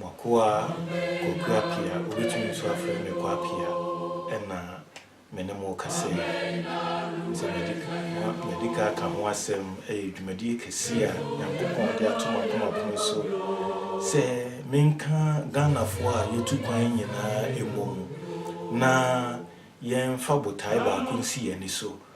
M'akoa Kwaku Appiah, wobɛtumi nso afrɛ me Kwa Appiah, na me ne mo rekasa yi. Sɛ madi kan, madi kan aka ho asɛm, ɛyɛ dwumadie kɛseɛ a Nyankopɔn de ato m'akoma pono so sɛ menka Ghanafoɔ a yɛtu kwan nyinaa mmɔ mu na yɛmfa botae baako nsi yɛn ani so.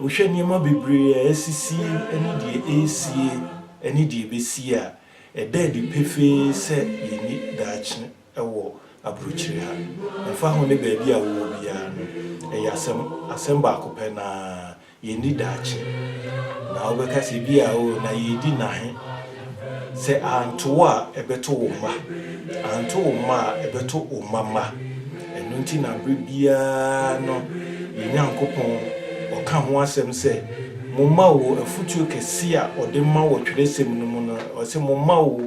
Wohwɛ nneɛma bebree a asisi ne deɛ ɛresie ne deɛ ɛbɛsi a, ɛda adi pefee sɛ yɛnni daakye wɔ aburokyire ha. Ɛmfa ho ne baabi a wowɔ biara no, ɛyɛ asɛm, asɛm baako pɛ no ara, yɛnni daakye. Na wobɛka sɛ, ebia, oo, na yɛredi nna he? Sɛ anto wo a, ɛbɛto wo mma. Anto wo mma a, ɛbɛto wo mma mma. Ɛno nti na bere biara no yɛn Nyankopɔn ɔka ho asɛm sɛ, Momma o, afotuo kɛseɛ a ɔde ma wɔ twerɛsɛm no mu no, ɔse, Momma o,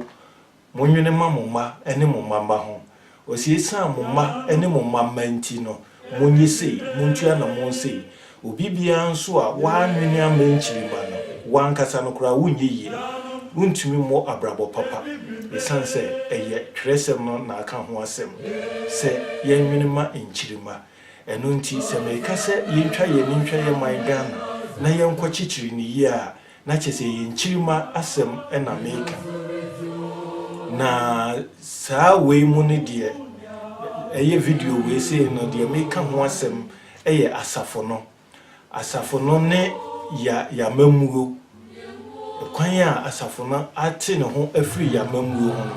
monwene ma mo mma ne mo mma mma ho, Ɔse, Esiane mo mma ne mo mma mma nti no, monye sei, montua na mowɔ sei. Obi biara nso a w'annwene amma nkyirimma no, w'ankasa no koraa wonyɛ yie. Wontumi mmɔ abrabɔ papa esiane sɛ ɛyɛ twerɛsɛm no na aka ho asɛm sɛ yɛnnwene ma nkyirimma. Ɛno nti sɛ meka sɛ yɛntwa yɛn ani ntwa yɛn man Ghana na yɛnkɔ kyekyere no yie a, Na kyerɛ sɛ ɛyɛ nkyirimma asɛm na meka. Na saa wei mu no deɛ ɛyɛ video wei sei no deɛ meka ho asɛm yɛ asafo no. Asafo no ne ya yamammuo. Kwan a asafo no ate ne ho afiri yamammuo ho no,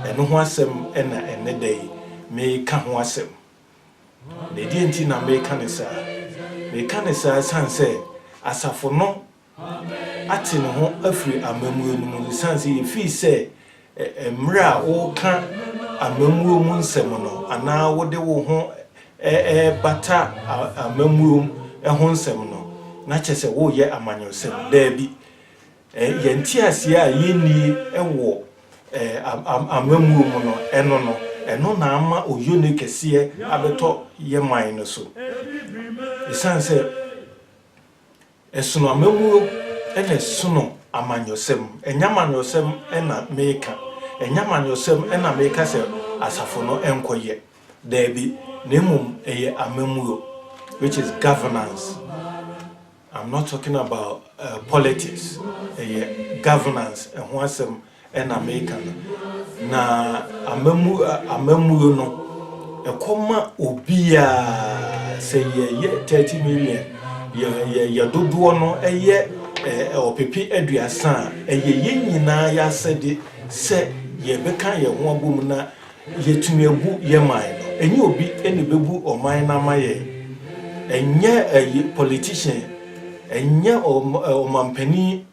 ɛno ho asɛm na ɛnnɛ da yi meka ho asɛm. Na ɛdeɛn nti na mereka no saa? Mereka no saa ɛsiane sɛ asafo no ate ne ho afiri amammuo no mu, ɛsiane sɛ yɛfii sɛ mmerɛ a woreka amammuo mu nsɛm no anaa wode wo ho rebata amammuo ho nsɛm no, na kyerɛ sɛ woreyɛ amanyɔsɛm. Daabi. Eh, yɛn nteaseɛ a yɛnnie wɔ eh, am, am, amammuo mu no, ɛno no, ɛno na ama oyone kɛseɛ abɛtɔ yɛ man no so. Ɛsiane sɛ ɛsono amammuo na ɛsono amanyɔsɛm, ɛnyɛ amanyɔsɛm na meka, ɛnyɛ amanyɔsɛm na meka sɛ asafo no nkɔyɛ, daabi, na mmom ɛyɛ amammuo, which is governance. I'm not talking about politics, ɛyɛ governance ɛho asɛm na meka no. Na amammu amammuo no ɛkɔ ma obiara sɛ yɛyɛ 30 million yɛ yɛ yɛ dodoɔ no ɛyɛ ɛɛ ɔpepe aduasa a ɛyɛ yɛn nyinaa yɛasɛde sɛ yɛbɛka yɛn ho abom na Yɛtumi agu yɛn man no. Ɛnyɛ obi na ɛbɛbu ɔman no ama yɛn. Ɛnyɛ politician, ɛnyɛ ɔmampanin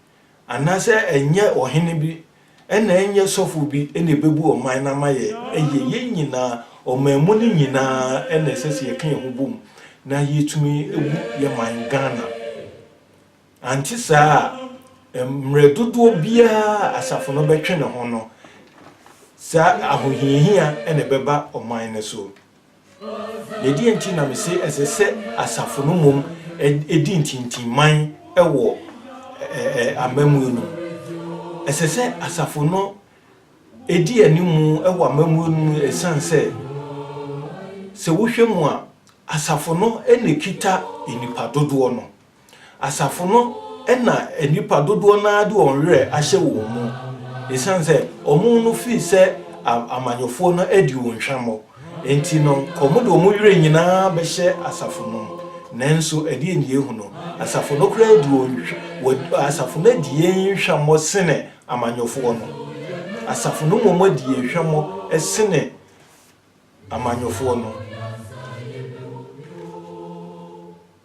anaasɛ ɛnyɛ ɔhene bi, ɛna ɛnyɛ sɔfo bi na ɛbɛbu ɔman no ama yɛn. Ɛyɛ yɛn nyinaa, ɔman mu no nyinaa na ɛsɛ sɛ yɛka yɛn ho bom na yɛtumi gu yɛn man Ghana. Ante saa a, mmerɛ dodoɔ biara a asafo no bɛtwe ne ho no, saa ahohiahia na ɛbɛba ɔman no so. Na ɛdeɛn nti na mese ɛsɛ sɛ asafo no mmom di ntintimman wɔ amammuo no mu? Ɛsɛ sɛ asafo no di anim wɔ amammuo no mu ɛsiane sɛ, sɛ wohwɛ mu a, asafo no na ɛkita nnipa dodoɔ no. Asafo no na nnipa dodoɔ no ara de wɔn werɛ ahyɛ wɔn mu, ɛsiane sɛ wɔn no firi sɛ amanyɔfoɔ no adi wɔn hwammɔ nti no, nka wɔde wɔn werɛ nyina ara bɛhyɛ asafo no mu. Nanso ɛdeɛn na yɛhu no? Asafo no koraa adi wɔn, asafo no adi yɛn hwammɔ sene amanyɔfoɔ no. Asafo no mmom adi yɛn hwammɔ sene amanyɔfoɔ no.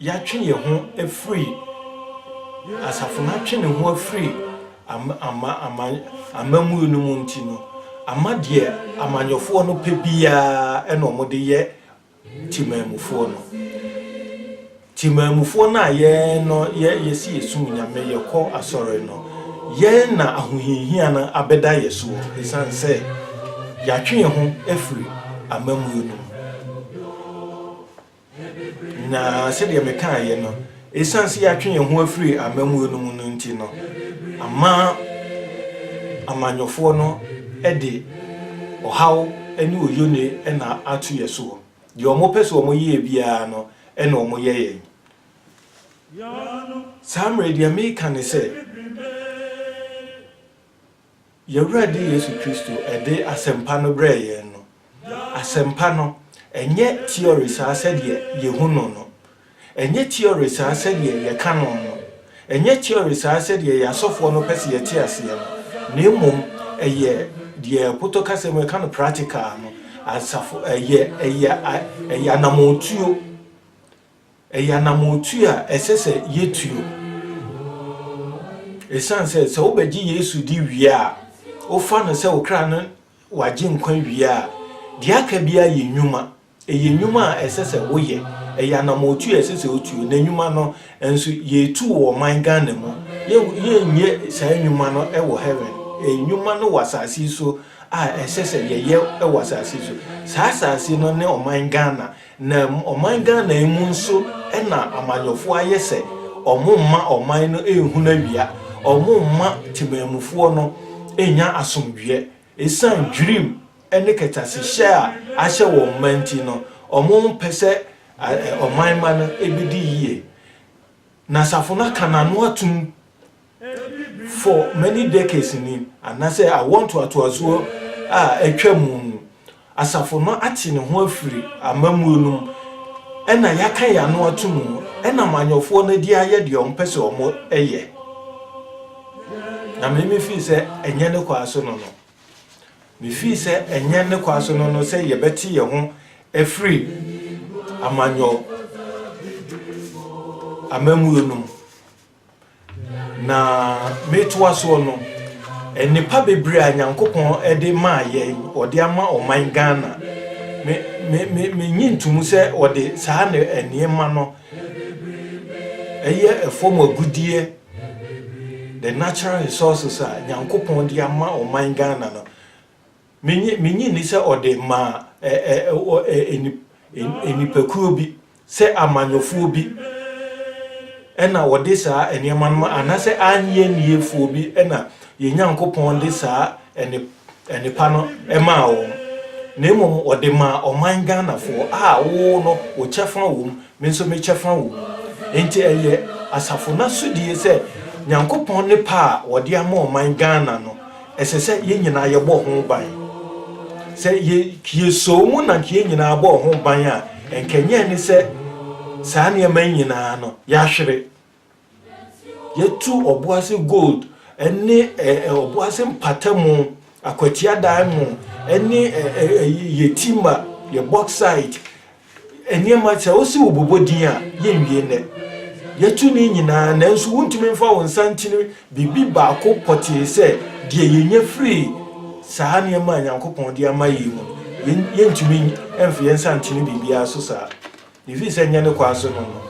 yɛatwe yɛn ho afiri asafo no atwe ne ho afiri ama ama amammuo no mu nti no ama deɛ amanyɔfoɔ no pɛ biara ɛna wɔde yɛ timamufoɔ no timamufoɔ no a yɛn no yɛ yɛsi yɛsum nyame yɛkɔ asɔre no yɛn na ahohiahia no abɛda yɛ soɔ ɛsiane sɛ yɛatwe yɛn ho afiri amammuo no mu Na sɛdeɛ mekaeɛ no, ɛsiane sɛ yɛatwe yɛn ho afiri amammuo no mu no nti no, ama amanyɔfoɔ no de ɔhaw ne oyone na ato yɛn soɔ. Deɛ wɔpɛ sɛ wɔyɛ yɛn biara no na wɔyɛ yɛn. Saa mmerɛ yi, deɛ mereka ne sɛ, Yɛn Awurade Yesu Kristo de asɛmpa no brɛɛ yɛn no, asɛmpa no, ɛnyɛ tiɔre saa sɛdeɛ yɛhu no no, ɛnyɛ tiɔre saa sɛdeɛ yɛka no no, ɛnyɛ tiɔre saa sɛdeɛ yɛn asɔfoɔ no pɛ sɛ yɛte aseɛ no, na mmom ɛyɛ deɛ Poto kasa mu yɛka no practical no, asafo, ɛyɛ, ɛyɛ, ɛyɛ anamɔtuo Ɛyɛ anamɔtu a ɛsɛ sɛ yetuo. Esiane sɛ sɛ wobɛgye Yesu di wie a, wofa no sɛ wo kra no w'Agyenkwa wie a, deɛ aka biara yɛ nnwuma. Ɛyɛ nnwuma a ɛsɛ sɛ woyɛ. Ɛyɛ anamɔtu a ɛsɛ sɛ wotuo. Na nnwuma no nso, yɛretu wɔ ɔman Ghana mu. Yɛrenyɛ saa nnwuma no wɔ Heaven. Ɛyɛ nnwuma no wɔ asase yi so a ɛsɛ sɛ yɛyɛ wɔ asase yi so. Saa asase no ne ɔman Ghana. Na ɔman Ghana yi mu nso na amanyɔfoɔ ayɛ sɛ wɔmma ɔman no nhunu awia, wɔmma temanmufoɔ no nnya asomdwoeɛ. Ɛsiane dwirim ne kɛtɛasehyɛ a ahyɛ wɔn mma nti no, wɔmpɛ sɛ ɔman mma no bɛdi yie. Na asafo no aka n'ano atom. For many decades ni, anaasɛ awoɔ ntoatoasoɔ a atwa mu ni, Asafo no ate ne ho afiri amammuo no mu na yɛaka yɛn ano ato mu nam anyɔfoɔ no de ayɛ deɛ wɔpɛ sɛ wɔyɛ. Na me mefii sɛ ɛnyɛ ne kwaa so no no. Mefii sɛ ɛnyɛ ne kwaa so no no sɛ yɛbɛte yɛn ho afiri amanyɔ amammuo no mu. Na metoa soɔ no, nnepa bebree a Nyankopɔn de maa yɛn, ɔde ama ɔman Ghana. Me, me, me, menye ntomu sɛ ɔde saa ne nneɛma no ɛyɛ ɛfɔm agudeɛ, the natural resources a Nyankopɔn de ama ɔman Ghana no, Minnye minnye nni sɛ ɔde maa ɛ ɛ ɔ ɛ nip ɛ nnipakuo bi, sɛ amanyɔfoɔ bi na wɔde saa nneɛma no ma, anaasɛ aannye nniefoɔ bi na yɛn Nyankopɔn de saa ɛne ɛnepa no maa wɔn, na mmom ɔde maa ɔman Ghanafoɔ a wo no wo kyɛfa wɔ mu, Me nso me kyɛfa wɔ mu. Enti ɛyɛ asafo no asodie sɛ Nyankopɔn ne pɛ a wɔde ama ɔman Ghana no, ɛsɛ sɛ yɛn nyinaa yɛbɔ ho ban. Sɛ yɛ yɛ soo mu na nka yɛn nyinaa bɔɔ ho ban a, nka ɛnyɛ ɛne sɛ saa nneɛma yi nyinaa no, yɛahwere. Yɛatu Ɔboase Gold ne Ɔboase Mpatamu, Akwatia Diamond ne Yetima, yɛ bauxite nneɛma, sɛ wose wobobɔ din a, yɛnwie nnɛ. Yɛatu ne nyinaa nanso wontumi mfa wo nsa nkyini biribi baako pɔtee sɛ deɛ yɛnya firii saa nneɛma a Nyankopɔn de ama yei mu no, yɛntumi mfa yɛn nsa nkyene biribiara so saa. Ɛfiri sɛ ɛnyɛ ne kwan so no no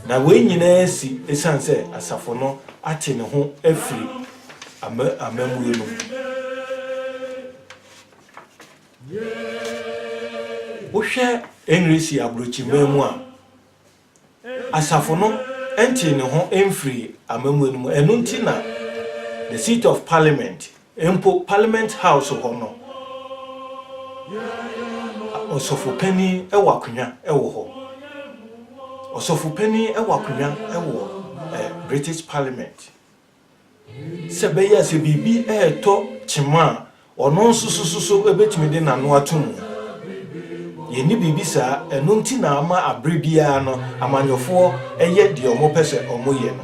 na wei nyinaa asi ɛsiane sɛ asafo no ate ne ho afiri amammuo no mu. Wohwɛ Engresi aborɔkyiman mu a, asafo no ntee ne ho mfirii amammuo no mu. Ɛno nti na The Seat of Parliament Mpo Parliament House hɔ no, Ɔsɔfo Panin wɔ akonnwa wɔ hɔ. Ɔsɔfo Panin wɔ akonnwa wɔ British Parliament. Sɛ ɛbɛyɛ a sɛ biribi retɔ kyema a, ɔno nso so bɛtumi de n'ano ato mu. Yɛnni biribi saa, ɛno nti na ama bere biara no, amanyɔfoɔ yɛ deɛ wɔpɛ sɛ wɔyɛ no.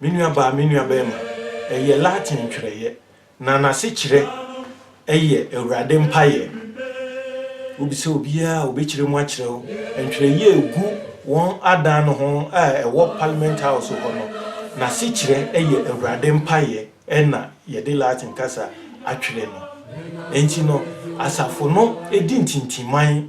Me nuabaa, me nuabarima, ɛyɛ Latin twerɛeɛ, na n'asekyerɛ yɛ Awurade Mpaeɛ. Wobisa obiara a, ɔbɛkyerɛ mu akyerɛ wo. Ntwerɛeɛ a ɛgu wɔn adan no ho a ɛwɔ Parliament House hɔ no, n'asekyerɛ yɛ Awurade Mpaeɛ, ɛna yɛde Latin kasa atwerɛ no. Enti no, asafo no di ntintiman.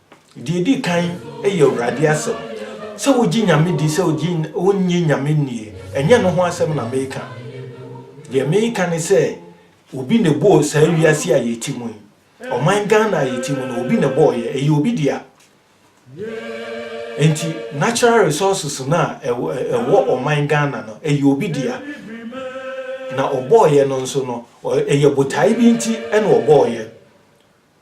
Deɛ ɛdi kan yɛ Awurade asɛm. Sɛ wogye Nyame di sɛ onnye Nyame nnie, ɛnyɛ no ho asɛm na meka. Deɛ meka ne sɛ obi na ɛbɔɔ saa wiase a yɛte mu yi. Ɔman Ghana a yɛte mu no, obi na ɛbɔɔeɛ, ɛyɛ obi dea. Enti natural resources no a ɛwɔ ɔman Ghana no, ɛyɛ obi dea. Na ɔbɔɔeɛ no nso no, ɛyɛ botae bi nti na ɔbɔɔeɛ.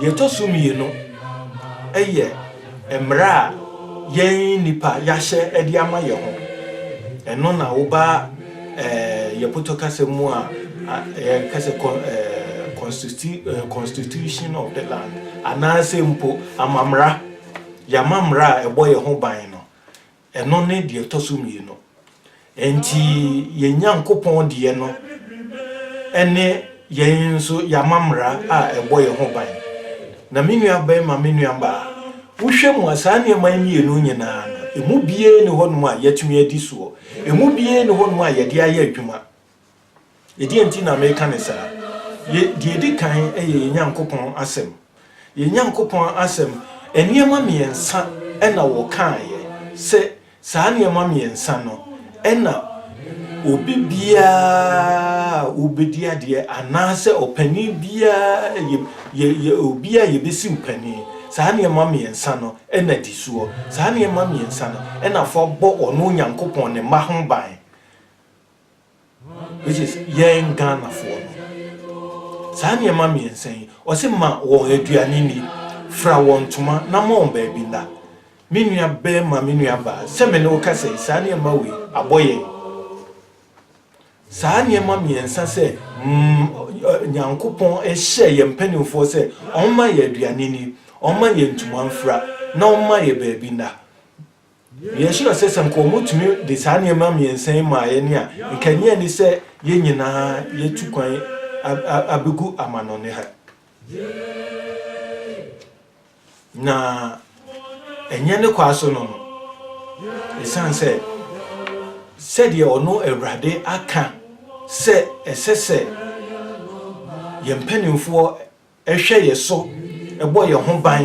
Deɛ ɛtɔ so mmienu yɛ mmara a yɛn nnipa yɛahyɛ de ama yɛn ho. Ɛno na woba eh, yɛ Puto kasa mu a yɛka sɛ eh, constitution of the land anaasɛ mpo amammara. Yɛama mmara a ɛbɔ yɛn ho ban no. Ɛno ne deɛ ɛtɔ so mmienu. Enti yɛn Nyankopɔn deɛ no ne yɛn nso yɛama mmara a ɛbɔ yɛn ho ban. Na me nuabarima, me nuabaa, wohwɛ mu a, saa nneɛma yi mmienu nyinaa no, ɛmu biara nni hɔnom a yɛatumi adi soɔ. Ɛmu biara nni hɔnom a yɛde ayɛ adwuma. Ɛdeɛn nti na meka no saa? Yɛ, deɛ ɛdi kan yɛ yɛn Nyankopɔn Asɛm. Yɛn Nyankopɔn Asɛm, nneɛma mmiɛnsa na wɔkaeɛ, sɛ saa nneɛma mmiɛnsa no na obi biara a ɔbɛdi adeɛ, anaasɛ ɔpanin biara, yɛ, yɛ, yɛ obi a yɛbɛsi wo panin, saa nneɛma mmiɛnsa no na di soɔ. Saa nneɛma mmiɛnsa no na fa bɔ ɔno Onyankopɔn ne mma ho ban. which is yɛn Ghanafoɔ no. Saa nneɛma mmiɛnsa yi, ɔse ma wɔn aduane nni, fira wɔn ntoma na ma wɔn baabi nna. Me nua barima, me nua baa, sɛ me ne wo kasa yi, saa nneɛma wei, abɔ yɛn. Saa nneɛma mmiɛnsa sɛ Nyankopɔn hyɛɛ yɛn mpanimfoɔ sɛ wɔmma yɛn aduane nni, wɔmma yɛn ntoma mfira na wɔmma yɛn baabi nna. Yɛnhyira sɛ sɛ nka wɔtumi de saa nneɛma mmiɛnsa yi maa yɛn a, nka ɛnyɛ ani sɛ yɛn nyinaa yɛatu kwan abɛgu amannɔne ha. Na ɛnyɛ ne kwa so no no, ɛsiane sɛ sɛdeɛ ɔno Awurade aka sɛ ɛsɛ sɛ yɛn mpanimfoɔ hwɛ yɛn so bɔ yɛn ho ban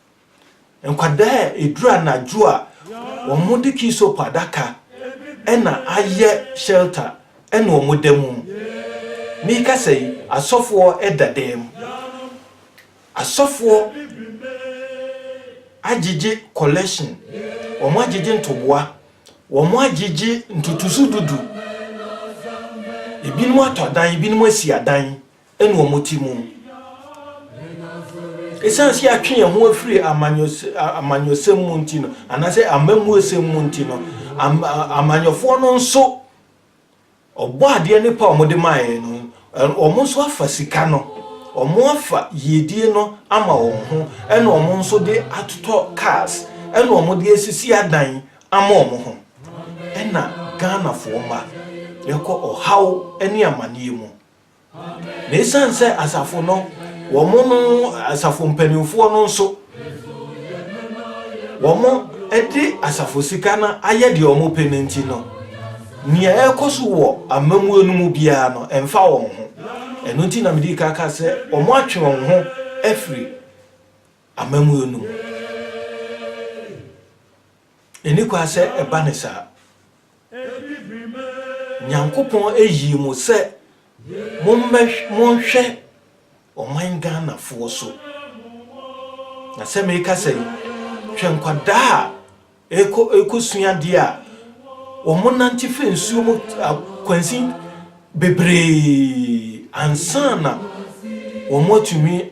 Nkwadaa a ɛduru anadwo a wɔde Keysop adaka na ayɛ shelter na wɔda mu. Merekasa yi, asɔfoɔ da dan mu. Asɔfoɔ agyegye collection, wɔagyegye ntoboa, wɔagyegye ntotoso dudu. Ebinom atɔ adan, ebinom asi adan. ne wɔn te mu. Ɛsiane sɛ yɛatwe yɛn ho afiri amanyɔsɛm mu nti no, anaasɛ amammuosɛm mu nti no, amanyɔfoɔ no nso, ɔbɔ adeɛ ne pa a wɔde maeɛ no, wɔn nso afa sika no, wɔn afa yiedie no ama wɔn ho, ɛna wɔn nso de atotɔ cars, ɛna wɔn de asisi adan ama wɔn ho. Ɛna Ghanafoɔ mma, yɛkɔ ɔhaw ne amaneɛ mu. Na esiane sɛ asafo no, wɔn no asafo mpanimfoɔ no nso, wɔde asafo sika no ayɛ deɛ wɔpɛ no nti no, nea ɛrekɔ so wɔ amammuo no mu biara no, ɛmfa wɔn ho. Ɛno nti na mede ka ka sɛ wɔatwe wɔn ho afiri amammuo no mu. Enni kwan sɛ ɛba no saa. Nyankopɔn yii mo sɛ monhwɛ ɔman Ghanafoɔ so. Na sɛ merekasa yi, hwɛ nkwadaa a ɛrekɔsua adeɛ a wɔnante firi nsuo mu akwansin bebree ansa na wɔatumi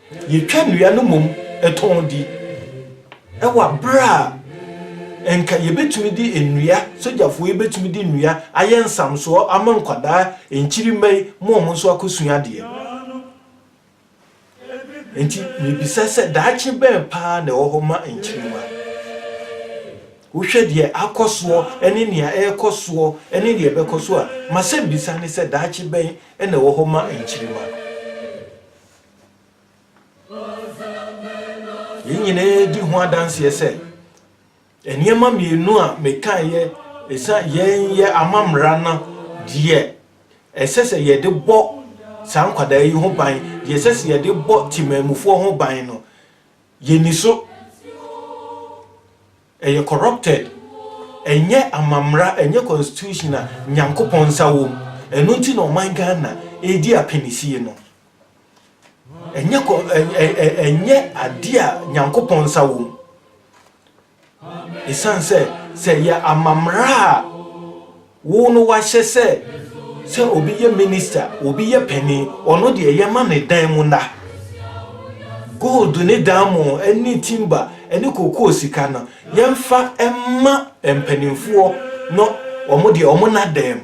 Yɛtwa nnua no mmom tɔn di. Ɛwɔ bere a anka yebetumi de nnua, sogyafo yi betumi de nnua ayɛ nsamsoɔ ama nkwadaa, nkyirimma yi, ma wɔn nso akɔsua adeɛ. Enti mebisa sɛ daakye bɛn paa na ɛwɔ hɔ ma nkyirimma? Wohwɛ deɛ akɔ soɔ ne nea ɛrekɔ soɔ ne deɛ ɛbɛkɔ so a, m'asɛmmisa ne sɛ daakye bɛn na ɛwɔ hɔ ma nkyirimma? Yei nyinaa di ho adanseɛ sɛ nneɛma mmienu a mekaeɛ ɛsa yɛn yɛ amammara no deɛ ɛsɛ sɛ yɛde bɔ saa nkwadaa yi ho ban deɛ ɛsɛ sɛ yɛde bɔ temanmufoɔ ho ban no yɛni so ɛyɛ corrupted ɛnyɛ amammara ɛnyɛ constitution a nyankopɔn nsa wom ɛno nti na ɔman ghana ɛredi apanisie no Ɛnyɛ kɔ ɛ ɛ ɛ ɛnyɛ adeɛ a Nyankopɔn nsa wɔ mu. Ɛsiane sɛ sɛ ɛyɛ amammerɛ a wo no wahyɛ sɛ sɛ obi yɛ minista, obi yɛ panin, ɔno deɛ yɛma ne dan mu nna. Gold ne diamond ne timba ne kokoo sika no, yɛmfa mma mpanimfoɔ no wɔn deɛ wɔn nna dan mu.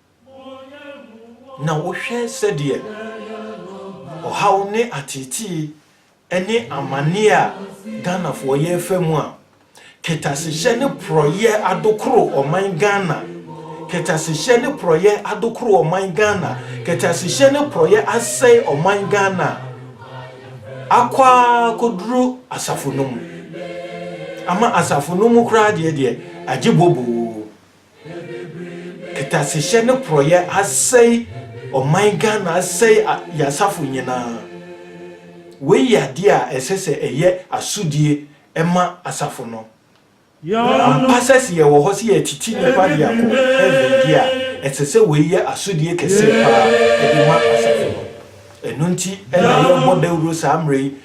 na wohwɛ sɛdeɛ ɔhaw ne ateetee ne amaneɛ a Ghanafoɔ yɛrefa mu a, kɛtasehyɛ ne porɔeɛ adokoro ɔman Ghana, kɛtasehyɛ ne porɔeɛ adokoro ɔman Ghana, kɛtasehyɛ ne porɔeɛ asɛe ɔman Ghana akɔ ara kɔduru asafo no mu, ama asafo no mu koraa deɛ deɛ agye boboo. Kɛtɛasehyɛ ne porɔyɛ asɛe ɔman Ghana asɛe yɛn asafo nyinaa. Wei yɛ adeɛ a ɛsɛ sɛ ɛyɛ asodie ma asafo no. Ampa sɛ se yɛwɔ hɔ se yɛretiti nnipa de akɔ heaven deɛ a, ɛsɛ sɛ wei yɛ asodie kɛseɛ paa de ma asafo no. Ɛno nti na yɛrebɔ dawuro saa mmerɛ yi,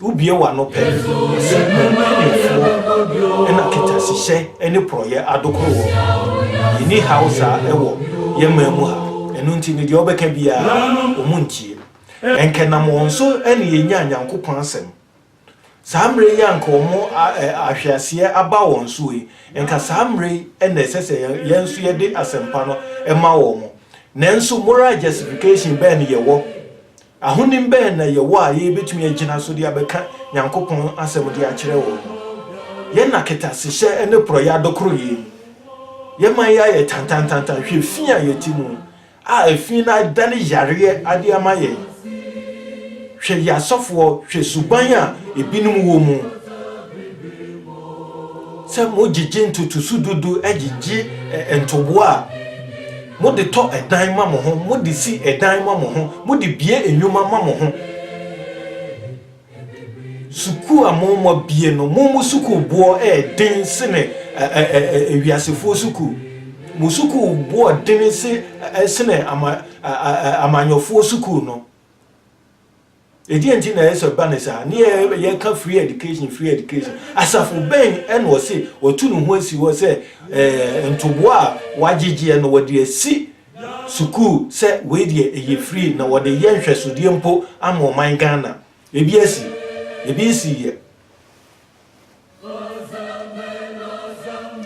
Wobue w'ano pɛ, ɔse, Mpanyimfoɔ na kɛtɛasehyɛ ne porɔeɛ adokoro wɔn. Yɛnni haw saa wɔ yɛn man mu ha. Ɛno nti no, deɛ wɔbɛka biara, wɔntie. Ɛnka ɛnam wɔn so na yɛnyaa Nyankopɔn Asɛm. Saa mmerɛ yi a anka wɔn ahweaseɛ aba wɔn so yi, ɛnka saa mmerɛ yi na ɛsɛ sɛ yɛn nso yɛde asɛmpa no ma wɔn. Nanso, moral justification bɛn na yɛwɔ Ahonim bɛn na yɛwɔ a yebetumi agyina so de abɛka Nyankopɔn Asɛm de akyerɛ wɔn? Yɛn na kɛtɛasehyɛ ne porɔeɛ adokoro yɛn. Yɛn man yi ayɛ tantantantan, hwɛ fi a yɛte mu a efi no adane yareɛ ade ama yɛn. Hwɛ yɛn asɔfoɔ, hwɛ suban a ebinom wɔ mu sɛ mogyegye ntotoso dudu gyegye ntoboa a. Mode tɔ dan ma mo ho, mode si dan ma mo ho, mode bue nnwuma ma mo ho. Sukuu a mommɔ bue no, mo mo sukuu boɔ ɛɛden sene wiasefoɔ sukuu. Mo sukuu boɔ dene sene amanyɔfoɔ sukuu no. Ɛdeɛn nti na ɛyɛ sɛ ɛba ne saa? Ne yɛka free education, free education. Asafo bɛn ɛna ɔse watu ne ho asi hɔ sɛ eh, ntoboa a wagyegyeɛ no wɔde asi sukuu sɛ wei deɛ ɛyɛ free na wɔde yɛ nhwɛsodeɛ mpo ama ɔman Ghana. Ebi asi, ebi nsiiɛ.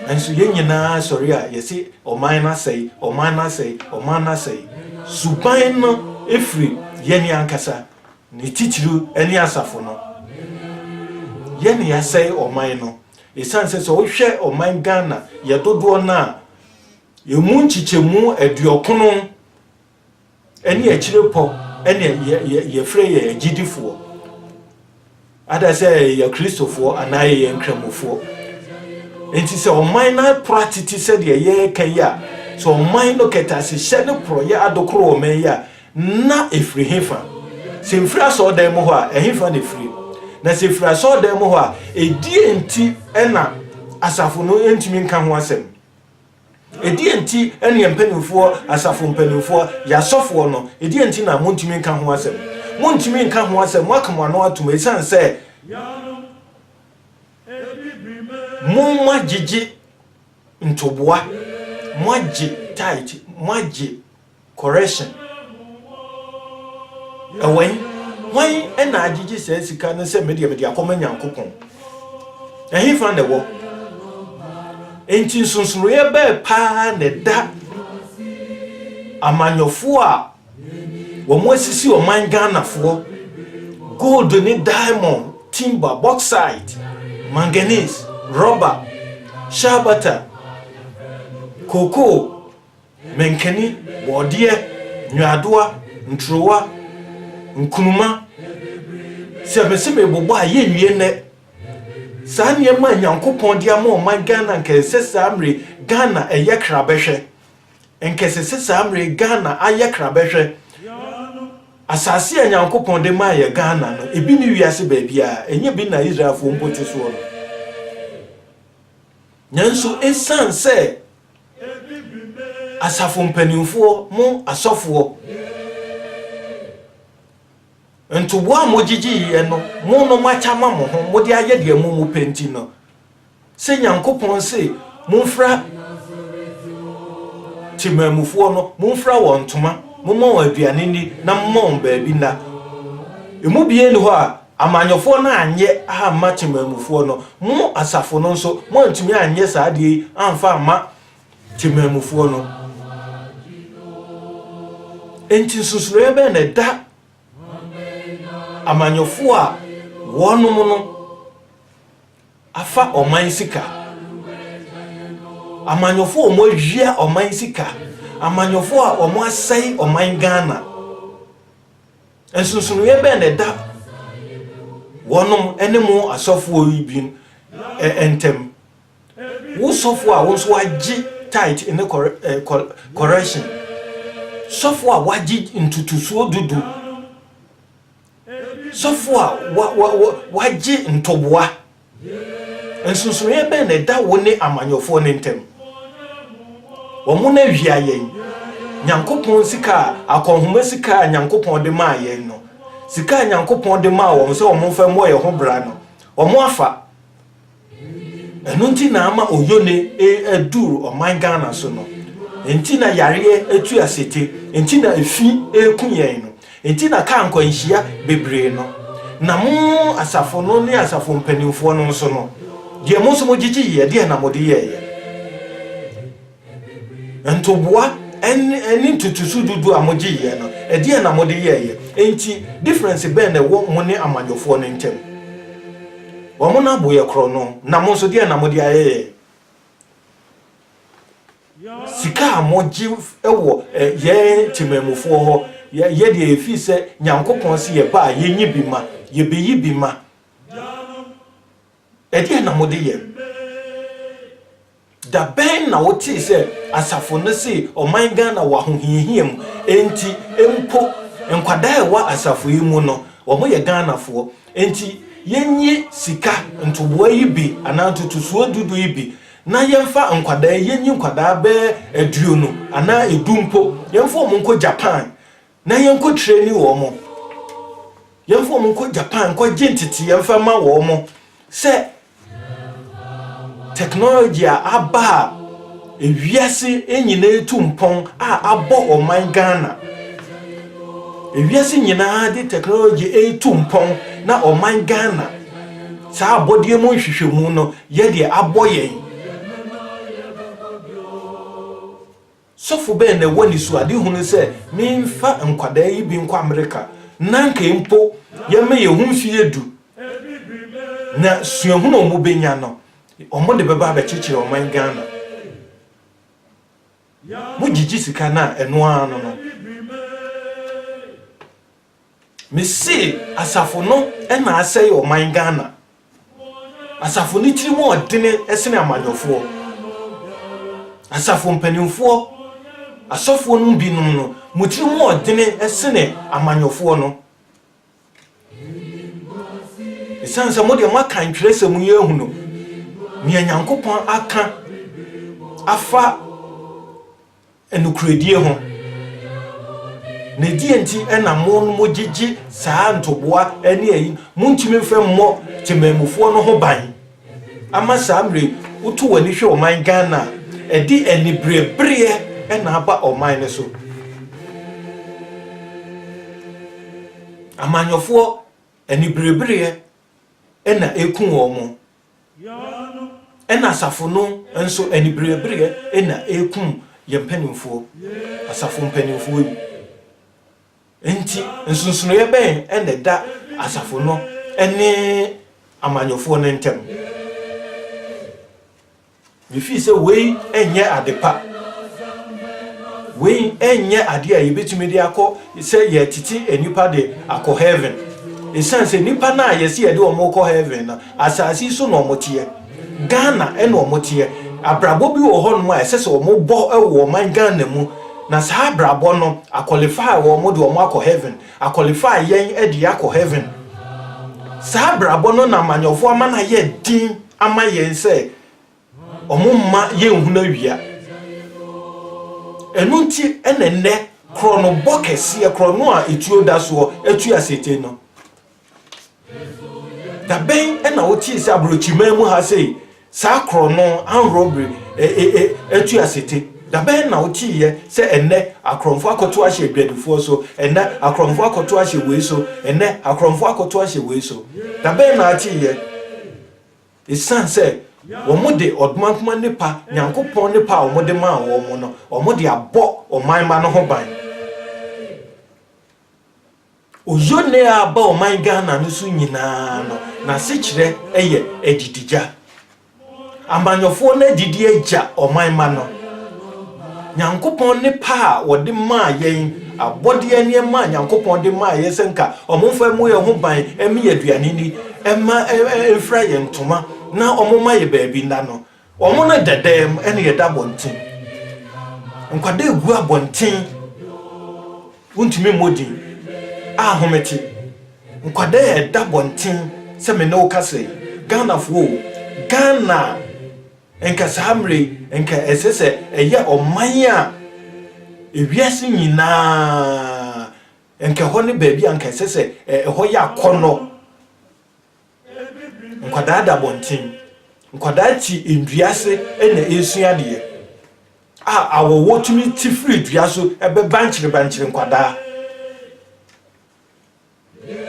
Nanso yɛn nyinaa sɔre a yɛse ɔman no asɛe, ɔman no asɛe, ɔman no asɛe. Suban no firi yɛn ankasa, ne titiriw ɛne asafo no. Yɛn na yɛasɛe ɔman no. Esiane sɛ sɛ wohwɛ ɔman Ghana, yɛ dodoɔ no a, emu nkyekyɛmu aduɔkono Ɛne akyire pɔ ɛne yɛfrɛ yɛn agyidifoɔ. Ada sɛ yɛyɛ Kristofoɔ anaa yɛyɛ nkramofoɔ. Nti sɛ ɔman no apora tete sɛdeɛ yɛreka yi a, sɛ ɔman no kɛtasehyɛ ne porɔyɛ adokoro ɔman yi a, na ɛfiri hefa? Sɛ ɛfiri asɔɔdan mu hɔ a, ɛhefa na ɛfiri? Na sɛ ɛfiri asɔɔdan mu hɔ a, ɛdeɛ nti na asafo no ntumi nka ho asɛm? Ɛdeɛn nti ne yɛn mpanimfoɔ, asafo mpanimfoɔ, yɛn asɔfoɔ no, ɛdeɛn nti na montumi nka ho asɛm? Montumi nka ho asɛm, moaka mo ano atom ɛsiane sɛ moagyegye ntoboa, moagye tithe, moagye. Correction, Ɛwɛn, hwan na agyegye saa sika no sɛ me deɛ mede akɔma Nyankopɔn? Ɛhefa na ɛwɔ? Enti nsonsonoeɛ bɛɛ paa na ɛda amanyɔfoɔ a wɔn asisi ɔman Ghanafoɔ, gold ne diamond, timber, bauxite, manganese, rubber, shea butter, cocoa, mankani, borɔdeɛ, nnwaadoa, nturowa, nkruma. Sɛ mese merebobɔ a, yɛnwie nnɛ. Saa nneɛma a Nyankopɔn de ama ɔman Ghana anka ɛsɛ sɛ saa mmere Ghana ɛyɛ krabɛhwɛ. Anka ɛsɛ sɛ saa mmere Ghana ayɛ krabɛhwɛ. Asase a Nyankopɔn de maa yɛ Ghana no, ebi ne wiase baabiara. Ɛnyɛ bi na Israelfoɔ mpo te soɔ no. Nanso ɛsiane sɛ. Asafo mpanimfoɔ, mo asɔfoɔ, ntoboa a mogyegyeeɛ no, mo no moakyɛ ama mo ho, mode ayɛ deɛ mo mopɛ nti no, sɛ Nyankopɔn se momfira temanmufoɔ no, momfira wɔn ntoma, momma wɔn aduane nni, na momma wɔn baabi nna. Emu biara nni hɔ a Amanyɔfoɔ no anyɛ amma Temanmufoɔ no, mo asafo no nso moantumi anyɛ saa adeɛ yi amfa amma Temanmufoɔ no. Enti nsusuiɛ bɛn na ɛda amanyɔfoɔ a wɔnom no afa ɔman sika, amanyɔfoɔ a wɔawia ɔman sika, amanyɔfoɔ a wɔasɛe ɔman Ghana? Nsonsonoeɛ bɛn na ɛda wɔnom ne mo asɔfoɔ yi bin ntam? Wo sɔfoɔ a wo nso wagye tithe ne correction, sɔfoɔ a wagye ntotosoɔ dudu, sɔfoɔ a wagye ntoboa Nsonsonoeɛ bɛn na ɛda wo ne amanyɔfoɔ no ntam? Wɔn na awia yɛn. Nyankopɔn sika a, akɔnhoma sika a Nyankopɔn de maa yɛn no, sika a Nyankopɔn de maa wɔn sɛ wɔn mfa mmɔ yɛn ho bra no, wɔn afa. Ɛno nti na ama oyone aduru ɔman Ghana so no. Nti na yareɛ atu asete. Nti na efi reku yɛn no. Enti na ka nkwanhyia bebree no, na mo asafo no ne asafo mpanimfoɔ no nso no, deɛ mo nso mogyegye yɛ, ɛdeɛn na mode yɛeɛ? Ntoboa ne ntotosu dodoɔ a mogye yɛ no, ɛdeɛn na mode yɛeɛ? Enti difference bɛn na ɛwɔ mo ne amanyɔfoɔ no ntam? Wɔn no abo yɛ korɔno, na mo nso deɛn na mode ayɛ yɛn? Sika a mogye wɔ yɛn temanmufoɔ hɔ, yɛ deɛ ɛfiri sɛ Nyankopɔn se yɛba a yɛnyi bi ma, yɛbɛyi bi ma. Ɛdeɛn na mode yɛ? Da bɛn na wotee sɛ asafo no se ɔman Ghana wɔ ahohiahia mu? Enti mpo nkwadaa a ɛwɔ asafo yi mu no, wɔyɛ Ghanafoɔ. Enti yɛnyi sika ntoboa yi bi anaa ntotosoɔ dudu yi bi na yɛmfa nkwadaa, yɛnyi nkwadaa bɛyɛ aduonu anaa edu mpo, yɛmfa wɔn nkɔ Japan na yɛnkɔ trɛni wɔn, yɛmfa wɔn nkɔ Japan nkɔgye nteteeɛ mfa ma wɔn sɛ technology a aba a ewiase nyinaa tu mpɔn a abɔ ɔman Ghana. Ewiase nyinaa de technology retu mpɔn na ɔman Ghana saa abɔdeɛ mu nhwehwɛmu no Yɛ deɛ abɔ yɛn. Sɔfo bɛn na ɛwɔ anisoadehunu sɛ memfa nkwadaa yi bi nkɔ Amerika na anka mpo yɛma yɛn ho mfeɛ du, na suahunu a wɔbɛnya no, wɔde bɛba abɛkyekyere ɔman Ghana? Mogyegye sika no a, ɛno ara no no. Mese asafo no na asɛe ɔman Ghana. Asafo no tiri mu ɔdene sene amanyɔfoɔ. Asafo mpanimfoɔ, asɔfoɔ no binom no, mo tiri mu ɔdene sene amanyɔfoɔ no. Ɛsiane sɛ mo deɛ moaka ntwerɛsɛm yi ahunu nea Nyankopɔn aka afa nokorɛdie ho, na ɛdeɛ nti na mo mo gyegye saa ntoboa ne ayi, montumi mfa mmɔ temanmufoɔ no ho ban, ama saa mmerɛ yi, woto w'ani hwɛ ɔman Ghana a, ɛde aniberebereɛ na aba ɔman no so. Amanyɔfoɔ aniberebereɛ na ɛku wɔn. Ɛna asafo no nso aniberebereɛ na ɛrekum yɛn mpanimfoɔ, asafo mpanimfoɔ yi. Enti nsonsonoeɛ bɛn na ɛda asafo no ne amanyɔfoɔ no ntam? Mifii sɛ wei nyɛ ade pa. Wei nyɛ ade a yebetumi de akɔ sɛ yɛretete nnipa de akɔ heaven. Esiane sɛ nnipa no a yɛse yɛde wɔn rekɔ heaven no, asase yi so na wɔteɛ. Ghana na wɔteɛ. Abrabɔ bi wɔ hɔnom a ɛsɛ sɛ wɔbɔ wɔ ɔman Ghana mu, na saa abrabɔ no, a qualify wɔn de wɔn akɔ heaven. Akwɔlifai yɛn de yɛakɔ Hɛven. Saa abrabɔ no na amanyɔfoɔ ama no ayɛ den ama yɛn sɛ wɔmma yɛnhunu awia. Ɛno nti na nnɛ korɔnobɔ kɛseɛ, korɔno a etuo da soɔ, atu asetee no. Da bɛn na wotee sɛ aborɔkyiman mu ha sei, saa korɔno, armed robbery, ɛ, ɛ, ɛ, atu asete? Da bɛn na woteeɛ sɛ ɛnnɛ akorɔmfoɔ akɔto ahyɛ adwadifoɔ so, ɛnnɛ akorɔmfoɔ akɔto ahyɛ wei so, ɛnnɛ akorɔmfoɔ akɔto ahyɛ wei so? Da bɛn na ateeɛ? Esiane sɛ wɔde ɔdomankoma nnepa, Nyankopɔn nnepa a wɔde maa wɔn no, wɔde abɔ ɔman mma no ho ban. Ozone a aba ɔman Ghana no so nyinaa no n'asekyerɛ yɛ adidigya. Amanyɔfoɔ no adidi agya ɔman mma no. Nyankopɔn ne pa a wɔde maa yɛn, abɔdeɛ nneɛma a Nyankopɔn de maa yɛn sɛ nka wɔn mfa mmɔ yɛn ho ban mme yɛn aduane ni, mma mfira yɛn ntoma na wɔmma yɛn baabi nna no, Wɔn na ɛda dan mu ɛna yɛda abɔnten. Nkwadaa gu abɔnten, wontumi mmɔ din, ahomete. Nkwadaa ɛda abɔnten sɛ me ne wo kasa yi, Ghanafoɔ o, Ghana a nka saa mmerɛ yi nka ɛsɛ sɛ ɛyɛ ɔman a ewiase nyinaa nka ɛhɔ ne baabi a nka ɛsɛ sɛ ɛhɔ yɛ akɔnnɔ. Nkwadaa da abɔnten. Nkwadaa te nnua ase na ɛresua adeɛ a awɔwɔ tumi te firi dua so ɛbɛ bankyere bankyere nkwadaa.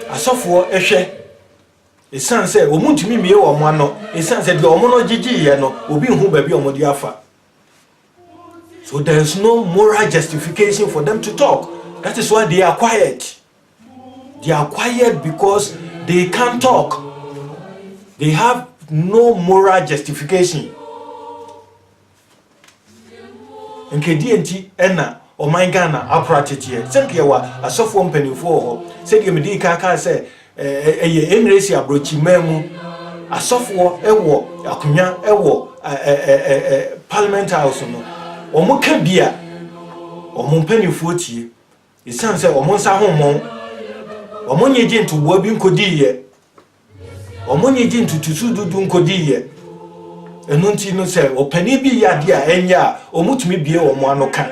Asɔfoɔ hwɛ ɛsiane sɛ wɔn ntumi mmie wɔn ano ɛsiane sɛ deɛ wɔn no gyegyeeɛ no obi nhu baabi a wɔde afa. So there is no moral justification for them to talk. That is why they are quiet. They are quiet because they can't talk. They have no moral justification. Nkedeɛ nti ɛna ɔman Ghana akora teteɛ. Sɛnka yɛwɔ asɔfoɔ mpanimfoɔ wɔ hɔ. Sɛdeɛ mede kan kaa sɛ ɛyɛ Emiresi aborɔkyiman mu asɔfoɔ wɔ akonnwa wɔ Parliament House no. Wɔn ka bi a wɔn mpanimfoɔ tie. Esiane sɛ wɔn nsa ho mmɔn, wɔnnye gye ntoboa bi nkodiiɛ, wɔnnye gye ntotosu dudu nkodiiɛ. Ɛno nti no, sɛ ɔpanin bi yɛ adeɛ a ɛnyɛ a, wɔtumi bie wɔn ano ka.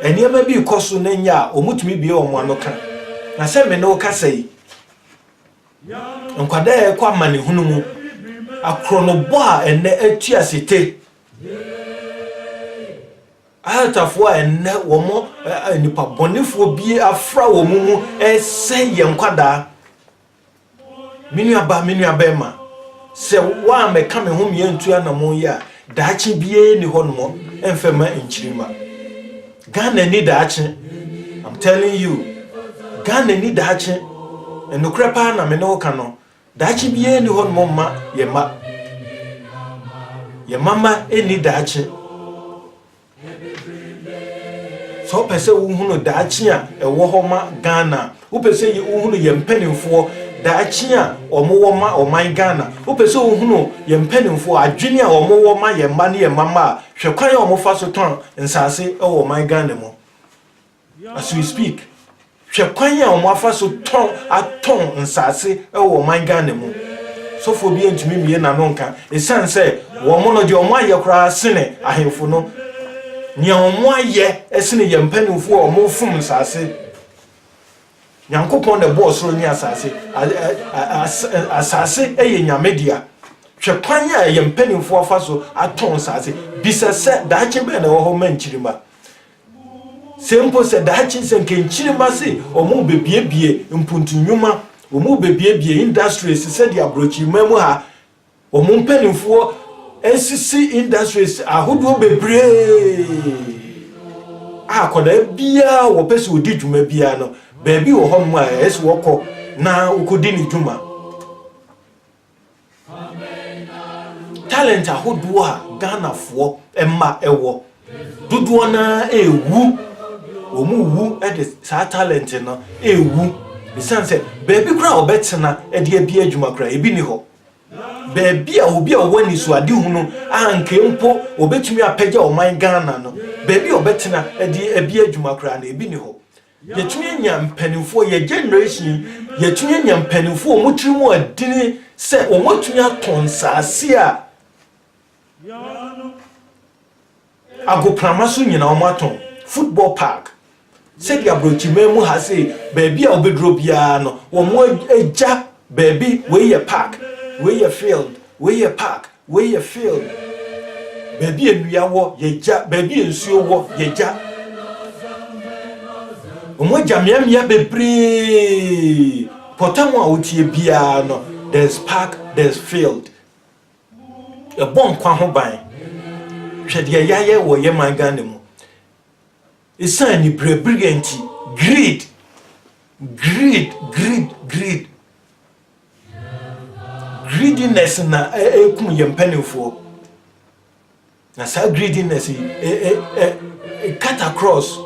Nneɛma bi rekɔ so na ɛnyɛ a, wɔtumi bie wɔn ano ka. Na sɛ me ne wo kasa yi, nkwadaa a ɛkɔ amanehunu mu, akorɔnobɔ a ɛnɛ atu ase te, Ahatafo a ɛnnɛ wɔn nnipa bɔnefoɔ bi afra wɔn mu resɛe yɛn nkwadaa. Me nuaba, me nuabɛrima, sɛ woammɛka me ho me antu anammɔn yi a, daakye biara ni hɔ nom mfa ma nkyirima. Ghana ni daakye. I'm telling you. Ghana ni daakye. Nokorɛ paa na me ne wo ka no. Daakye biara nni hɔnom mma yɛn mma. Yɛn mma mma nni daakye. Sɛ wopɛ sɛ wohunu daakye a ɛwɔ hɔ ma Ghana, wopɛ sɛ wohunu yɛn mpanimfoɔ daakye a wɔwɔ ma ɔman Ghana, wopɛ sɛ wohunu yɛn mpanimfoɔ adwene a wɔwɔ ma yɛn mma ne yɛn mma mma a, hwɛ kwan a wɔfa so tɔn nsaase wɔ ɔman Ghana mu. As we speak, hwɛ kwan a wɔafa so tɔn atɔn nsase wɔ ɔman Ghana mu. Sɔfoɔ biara ntumi mmue n'ano nka esiane sɛ wɔn no deɛ wɔayɛ koraa sene ahemfo no. Nea wɔayɛ sene yɛn mpanimfoɔ a wɔfom nsase. Nyankopɔn na ɛbɔɔ soro ne asase. Asase yɛ Nyame dea. Hwɛ kwan a yɛn mpanimfoɔ afa so atɔn nsase. Bisa sɛ daakye bɛn na ɛwɔ hɔ ma nkyirimma. Se mpo sɛ daakye nsɛnkenkyirema se wɔrebebiebie mpontu nnwuma, wɔrebebiebie industries sɛdeɛ aborɔkyiriman mu ha, wɔn mpaninfoɔ asisi industries ahodoɔ bebree a akwadaa biara a wɔpɛ se wɔdi dwuma biara no, baabi wɔ hɔnom a ɛyɛ se wɔkɔ na wɔkɔdi ne dwuma. Talent ahodoɔ a Ghanafoɔ mma wɔ, dodoɔ no ara rewu. Wɔrewu de saa talent no rewu. Ɛsiane sɛ baabi koraa a wɔbɛtena de adi adwuma koraa, ebi nni hɔ. Baabi a obi a ɔwɔ anisoadehunu a anka mpo wɔbɛtumi apagya ɔman Ghana no, baabi a wɔbɛtena de adi adwuma koraa no, ebi nni hɔ. Yɛtumi anya mpanimfoɔ, yɛ generation yi, yɛtumi anya mpanimfoɔ a wɔn tiri mu adini sɛ wɔatumi atɔn nsaase a agoprama so nyinaa wɔn atɔn football park sɛdeɛ aburokyiman mu ha sei baabi a wobɛduro biara no wɔn agya baabi wei yɛ park wei yɛ field wei yɛ park Wei yɛ field baabi a nnua wɔ yɛgya baabi a nsuo wɔ yɛgya wɔn agya mmeammea bebree pɔtam a wotie biara no there's park there's field ɛbɔ nkwa ho ban hwɛ deɛ yɛayɛ wɔ yɛ man Ghana mu ɛsiane ne berɛberɛ nti greed greed greed greed Greediness na ɛkum yɛn mpanimfoɔ. Na saa greediness yi ɛ ɛ ɛ cut across.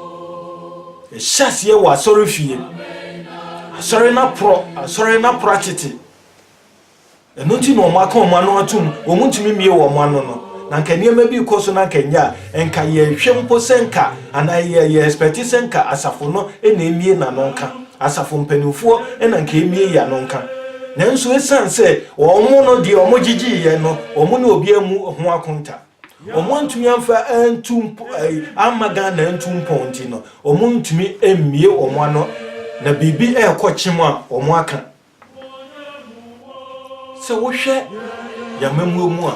Ɛhyɛ aseɛ wɔ asɔre fie. Asɔre no aporɔ, asɔre no aporɔ atete. Ɛno nti na wɔn aka wɔn ano atum, wɔn ntumi mmie wɔn ano no. Na nka nneɛma bi kɔ so na nka nyɛ a, nka yɛhwɛ mpo sɛ nka anaa yɛ yɛ expect sɛ nka asafo no na emie n'ano nka. Asafo mpanimfoɔ na anka ɛmie yi ano nka, nanso ɛsiane sɛ wɔn no deɛ wɔgyegyeeɛ no, wɔn ne obiara mu ho akonta. Wɔn antumi amfa antu mpo, amma Ghana antu mpɔn nti no, wɔn ntumi mmie wɔn ano na biribi ɛrekɔ kyem a wɔn aka. Sɛ wohwɛ yɛn amammuo mu a,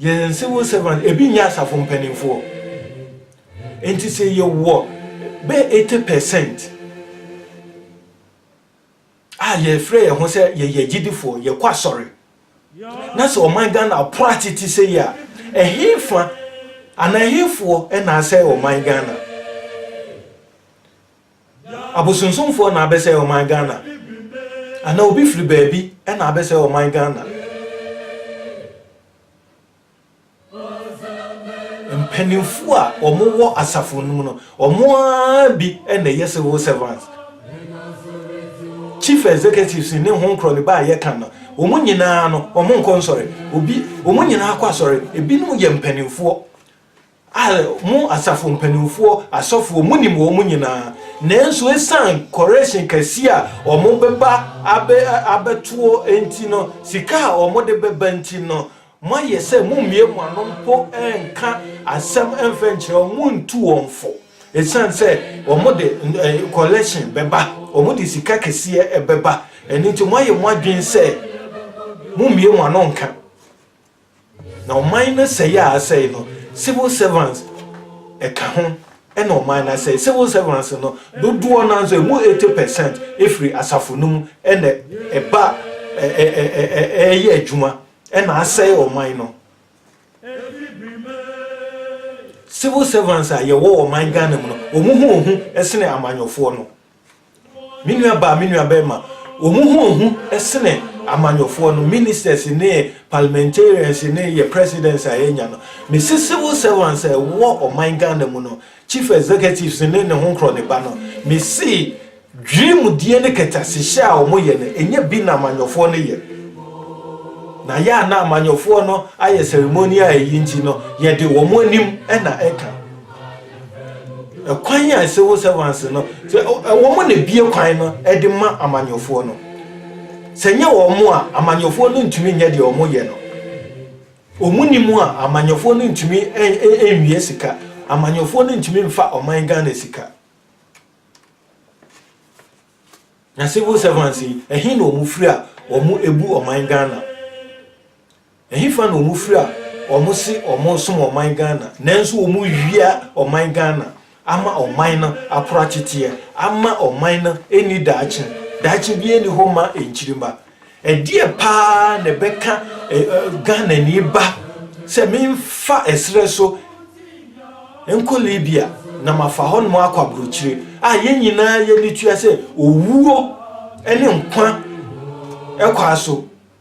Yɛn civil servant ebi nyɛ asafo mpanimfoɔ. Nti sɛ yɛwɔ bɛyɛ eighty percent a yɛfrɛ yɛn ho sɛ yɛyɛ agyidifoɔ, yɛkɔ asɔre, na sɛ ɔman Ghana pono atete sɛ yi a, ɛhefa anaa ɛhefoɔ na asɛe ɔman Ghana? Abosonsomfoɔ na abɛsɛe ɔman Ghana anaa obi firi baabi na abɛsɛe ɔman Ghana? Mpaninfoɔ a wɔn wɔ asafo no mu no, wɔn ara bi na ɛyɛ civil servants, chief executives ne ho nkorɔ ne ba a yɛka no, wɔn nyinaa no, wɔn nkɔ nsɔre, obi, wɔn nyinaa kɔ asɔre, ebinom yɛ mpaninfoɔ. A Mo asafo mpanimfoɔ, asɔfoɔ, monim wɔn nyinaa, nanso ɛsiane correction kɛseɛ a wɔbɛba abɛ, abɛtoɔ nti no, sika a wɔde bɛba nti no, moayɛ sɛ mommue mo ano mpo nka asɛm mfa nkyerɛ wɔn, montu wɔn fo, ɛsiane sɛ wɔde collection bɛba, wɔde sika kɛseɛ bɛba, ɛno nti moayɛ mo adwene sɛ mommue mo ano nka. Na ɔman no sɛe a asɛe no, civil servants ka ho, ɛna ɔman no asɛe. Civil servants no dodoɔ no nso, ɛmu 80 percent firi asafo no mu na ɛba ɛyɛ adwuma ɛna asɛe ɔman no. Civil servants a yɛwɔ ɔman Ghana mu no, wɔn ho ohu sene amanyɔfoɔ no. Me nua baa, me nua barima, wɔn ho ohu sene amanyɔfoɔ no, ministers ne parliamentarians ne yɛ presidents a yɛanya no. Mese civil servants a ɛwɔ ɔman Ghana mu no, chief executives ne ne ho nkorɔ ne ba no, mese dwirimdie ne kɛtɛasehyɛ a wɔn yɛ no, ɛnyɛ bi na amanyɔfoɔ no yɛ. Na yɛ a na amanyɔfoɔ no ayɛ ceremonial ayi nti no, yɛde wɔn anim na ɛka. Kwan a civil servants no sɛ wɔn na bie kwan no de ma amanyɔfoɔ no. Sɛ nyɛ wɔn a amanyɔfoɔ no ntumi nyɛ deɛ wɔn yɛ no. Wɔn ni mu a amanyɔfoɔ no ntumi nwie sika. Amanyɔfoɔ no ntumi nfa ɔman Ghana sika. Na civil servants yi ɛhe na wɔn firi a wɔn ebu ɔman Ghana. Ɛhefa na ɔmo firi a ɔmo se ɔmo som ɔman Ghana nanso ɔmo wia ɔman Ghana ama ɔman no akora teteɛ ama ɔman no nni daakye daakye biara nni hɔ ma nkyirima ɛdeɛ paa na ɛbɛka Ghanani ba sɛ menfa ɛserɛ so nkɔ Libya na mafa hɔnom akɔ abrokyire a yɛn nyinaa yɛni tua sɛ owuo ne nkwa ɛkwa so.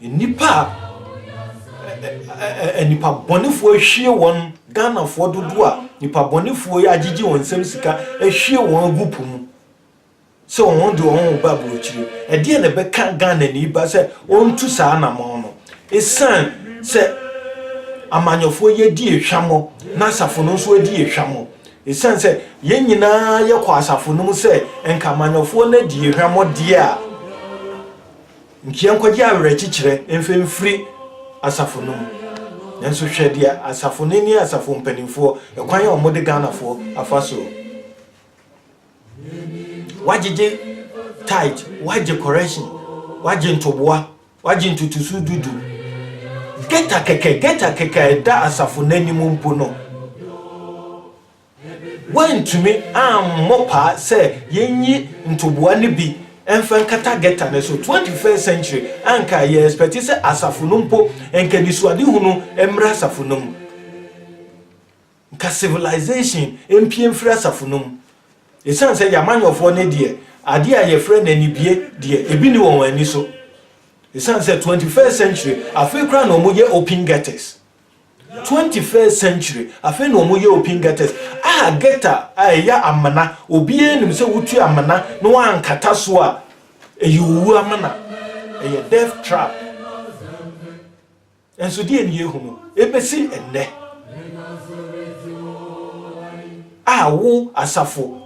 Nnipa a nnipabɔnefoɔ ahwie wɔn, Ghanafoɔ dodoɔ a nnipabɔnefoɔ yi agyegye wɔn nsam sika ahwie wɔn agu po mu sɛ wɔn de wɔn reba aburokyire. Ɛdeɛn na ɛbɛka Ghanani ba sɛ ɔntu saa anamɔn no? Ɛsiane sɛ amanyɔfoɔ yi adi ehwammɔ na asafo no nso adi ehwammɔ. Ɛsiane sɛ yɛn nyinaa yɛkɔ asafo no mu sɛ nka amanyɔfoɔ no adi ehwammɔ deɛ a, Nkyia nkɔgye awerɛkyekyerɛ mfa mfiri asafo no mu. Nanso hwɛ deɛ asafo no ne asafo mpanimfoɔ, ɛkwan a wɔde Ghanafoɔ afa so wɔagyegye tithe, wɔagye correction, wɔagye ntoboa, wɔagye ntotoso du du. Geta kɛkɛ, geta kɛkɛ a ɛda asafo no anim mpo no. Wɔantumi ammɔ paa sɛ yɛnyi ntoboa no bi mfa nkata gɛta no so. Twenty first century anka yɛ expect sɛ asafo no mpo nka anisoadehunu mmra asafo no mu. Nka civilization mpue mfiri asafo no mu. Ɛsiane sɛ yɛamanyɔfoɔ no deɛ adeɛ a yɛfrɛ no anibue deɛ ɛbi nni wɔn ani so. Ɛsiane sɛ twenty first century afei koraa na wɔyɛ open gɛtas. Twenty first century afei na wɔn yɛ open gutters a gutter a ɛyɛ amena obiara nim sɛ wotu amena na wankata so a ɛyɛ owu amena ɛyɛ death trap nso deɛ ne yɛhunu ɛbɛsi ɛnnɛ a wo asafo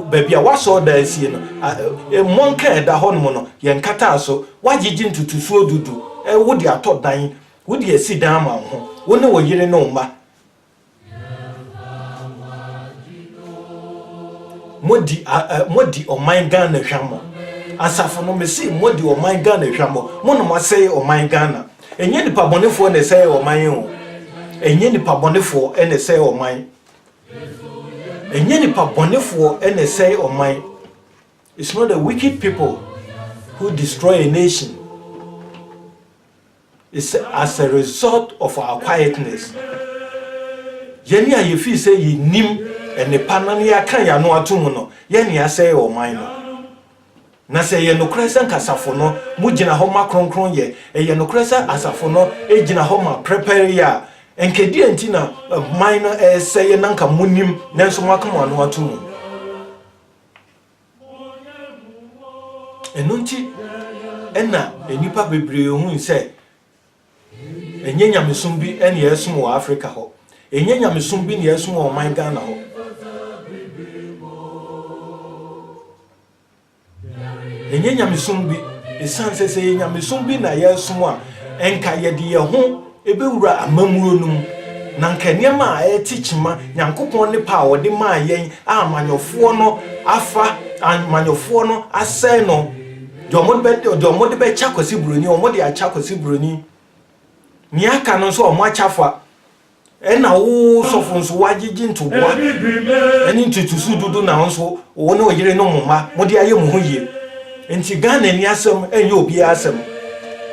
baabi a wasɔɔ da asie no mmɔ nka ɛda hɔ nom no yɛnkataa so wagyegye ntutusuo dudu wode atɔ dan Wode asi dan ma wo ho, wo ne wo yere ne wo mma. Modi a ɛ modi ɔman Ghana hwammɔ. Asafo no mese modi ɔman Ghana hwammɔ. Mo na moasɛe ɔman Ghana. Ɛnyɛ nipa bɔnefoɔ na ɛsɛe ɔman yi o. Ɛnyɛ nipa bɔnefoɔ na ɛsɛe ɔman. Ɛnyɛ nipa bɔnefoɔ na ɛsɛe ɔman. It's not the wicked people who destroy a nation. It's as a result of our quietness, yɛn a yɛfii sɛ yɛnnim nnepa na na yɛaka yɛn ano ato mu no, yɛn na yɛasɛe ɔman no. Na sɛ ɛyɛ nokorɛ sɛ anka asafo no mo gyina hɔ ma kronkronyɛ, ɛyɛ nokorɛ sɛ asafo no gyina hɔ ma prɛpɛreyɛ a, anka deɛn nti na ɔman no resɛeɛ na anka monim nanso moaka mo ano ato mu? Ɛno nti na nnipa bebree hui sɛ ɛnyɛ nyamesom bi na yɛresom wɔ Afrika hɔ. Ɛnyɛ nyamesom bi na yɛresom wɔ ɔman Ghana hɔ. Ɛnyɛ nyamesom bi, ɛsiane sɛ sɛ ɛyɛ nyamesom bi na yɛresom a, ɛnka yɛde yɛn ho Ebewura amammuro no mu. Na anka nneɛma a ɛte kyima, Nyankopɔn ne pɛ a ɔde maa yɛn a amanyɔfoɔ no afa, amanyɔfoɔ no asɛe no, deɛ wɔde bɛ, deɛ wɔde bɛkyɛ Kwasi Buroni, wɔde akyɛ Kwasi Buroni. Nea aka no nso, wɔakyɛ afa. Ɛna wo sɔfo nso, woagyegye ntoboa ne ntotosu dodo na wo nso, wo ne wo yere ne mo mma, mode ayɛ mo ho yie. Nti Ghanani asɛm nyɛ obiara asɛm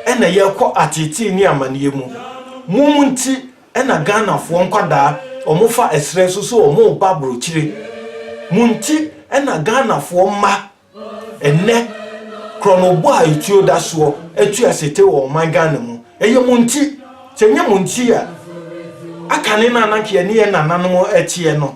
ɛna yɛkɔ ateetee ne amaneɛ mu. Mom nti ɛna Ghanafoɔ nkwadaa ɔmo fa ɛserɛ so sɛ ɔmo reba abrokyire. Mo nti ɛna Ghanafoɔ mma ɛnnɛ krɔnobɔ a etuo da soɔ atu asete wɔ ɔman Ghana mu. Ɛyɛ mo nti. Sɛ ɛnyɛ mo nti a, akane no a na nka yɛne yɛn nananom teɛ no.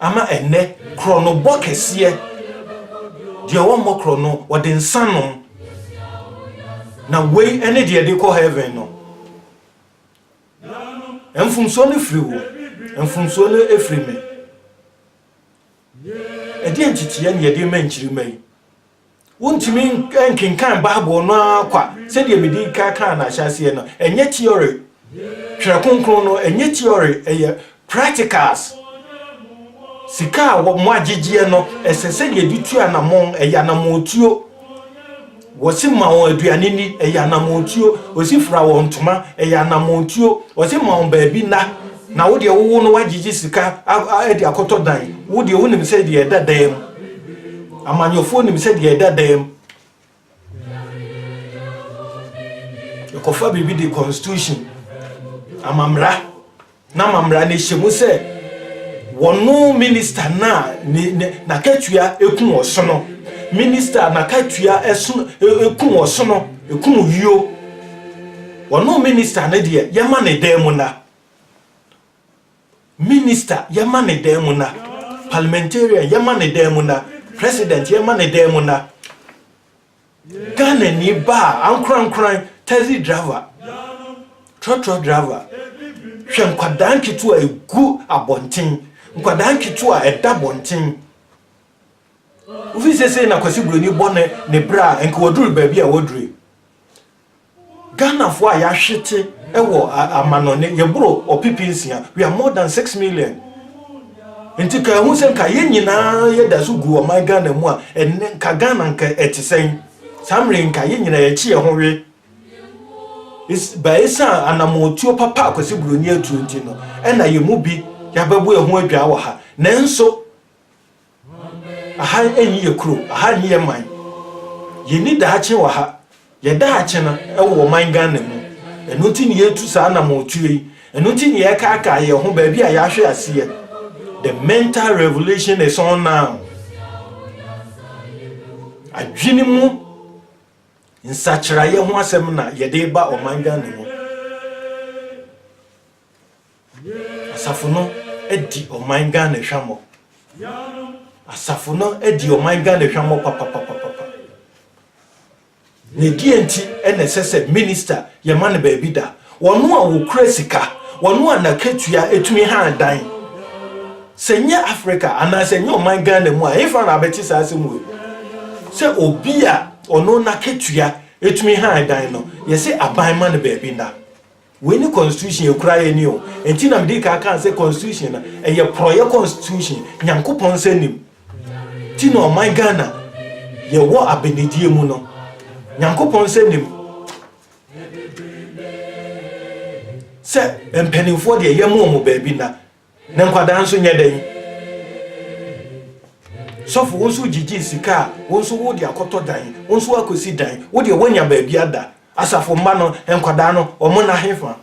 Ama ɛnnɛ, korɔnobɔ kɛseɛ, deɛ wɔmmɔ korɔno, wɔde nsa nom. Na wei ne deɛ ɛde kɔ heaven no. Mfomsoɔ no firi wo, mfomsoɔ no firi me. Ɛdeɛn nteteɛ na yɛde rema nkyirimma yi? Wontumi nkenkan Bible no ara kwa, sɛdeɛ mede ka kaa no ahyɛaseɛ no. Ɛnyɛ theory, Twerɛ Kronkron no, ɛnyɛ theory, ɛyɛ practicals. Sika a moagyegyeɛ no, ɛsɛ sɛ yɛde tu anamɔn, ɛyɛ anamɔntuo. Wɔse ma wɔn aduane ni, ɛyɛ anamɔntuo. Wɔse fira wɔn ntoma, ɛyɛ anamɔntuo. Wɔse ma wɔn baabi nna, Na wo deɛ wowo no wagyegye sika de akɔtɔ dan wo deɛ wonim sɛ deɛ ɛda dan mu amanyɔfoɔ nim sɛ deɛ ɛda dan mu ɛkɔfa biribi de constitution amamra na amamra no hyɛ mu sɛ wɔno minista no a n'akatua ɛku ɔsono minista n'akatua ɛku ɔsono ɛku yio wɔno minista no deɛ yɛma ne dan mu na Minister, yɛma ne dan mu na. Parliamentarian, yɛma ne dan mu na. President, yɛma ne dan mu na. Ghanani baa, ankorankoran, taxi driver, trɔtrɔ driver, hwɛ nkwadaa nketewa a ɛgu abɔnten, nkwadaa nketewa a ɛda abɔnten. Wofi sesei na Kwasi Buroni bɔ ne, ne bra a, nka waduru baabi a waduru. Ghanafoɔ a yɛahwete wɔ amanɔne, yɛboro ɔpepe nsia, we are more than six million. Nti ka ɛho sɛ nka yɛn nyinaa yɛda so gu ɔman Ghana mu a, ɛnɛ nka Ghana nka ɛte sɛn? Saa mmerɛ nka yɛn nyinaa yɛkye yɛn ho we. Ba ɛsiane anamɔtuo papa a Kwasi Buroni atuo nti no, ɛna yɛn mu bi yɛabɛbo ɛho adwaa wɔ ha. Nanso, Aha nni yɛ kuro, aha nni yɛ man. Yɛnni daakye wɔ ha. Yɛ daakye no wɔ ɔman Ghana mu. Ɛno nti na yɛretu saa anamɔntuo yi. Ɛno nti na yɛrekaakaa yɛn ho baabi a yɛahwe aseɛ. The mental revolution is on now. Adwene mu nsakyeraeɛ ho asɛm na yɛde ba ɔman Ghana mu. Asafo no adi ɔman Ghana hwammɔ. Asafo no adi ɔman Ghana hwammɔ papapapapa. Na ɛdeɛ nti na ɛsɛ sɛ minista yɛma no baabi da? Wɔn a wɔkura sika, wɔn a n'akatua tumi han dan. Sɛ nyɛ Africa anaa sɛ nyɛ ɔman Ghana mu a, ɛfa na abɛte saa asɛm wei mu. Sɛ obi a ɔno n'akatua tumi han dan no, yɛsɛ aban ma no baabi da. Wei ne constitution ekura yɛ ni o nti na mede kaa kaa sɛ constitution no ɛyɛ prɔyɛ constitution nyankopɔn nsa nim ti na ɔman Ghana yɛ wɔ abɛnedie mu no nyankopɔn nsa nim sɛ mpaninfoɔ deɛ yɛ mo ɔmo baabi na Na nkwadaa nso nyɛ dɛn? Sɔfo, wo nso gyigyee sika a wo nso wode akɔtɔ dan, wo nso woakɔsi dan, wo deɛ woanya baabi ada. Asafo mma no, nkwadaa no, wɔn nna hefa?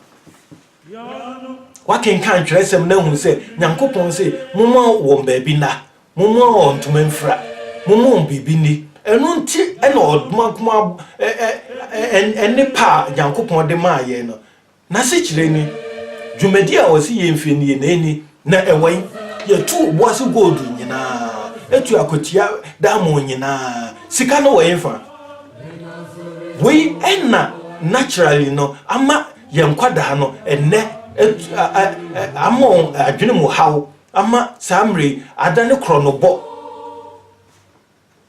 Woakenkan twerɛsɛm na ahunu sɛ Nyankopɔn se momma wɔn baabi nna, momma wɔn ntoma mfira, momma wɔn biribi nni. Ɛno nti na ɔdoma nkumaa nnepa a Nyankopɔn de maa yɛn no, N'asekyerɛ ni, Dwumadi a wɔse yɛmfie no yɛ n'ani, na ɛwɔ he? Yɛtu oboase gold nyinaa, tu akwatia diamond nyinaa, sika no wɔ hefa? Wei na naturally no ama yɛn nkwadaa no ɛnnɛ ama wɔn adwene mu haw ama saa mmerɛ yi adane korɔnobɔ.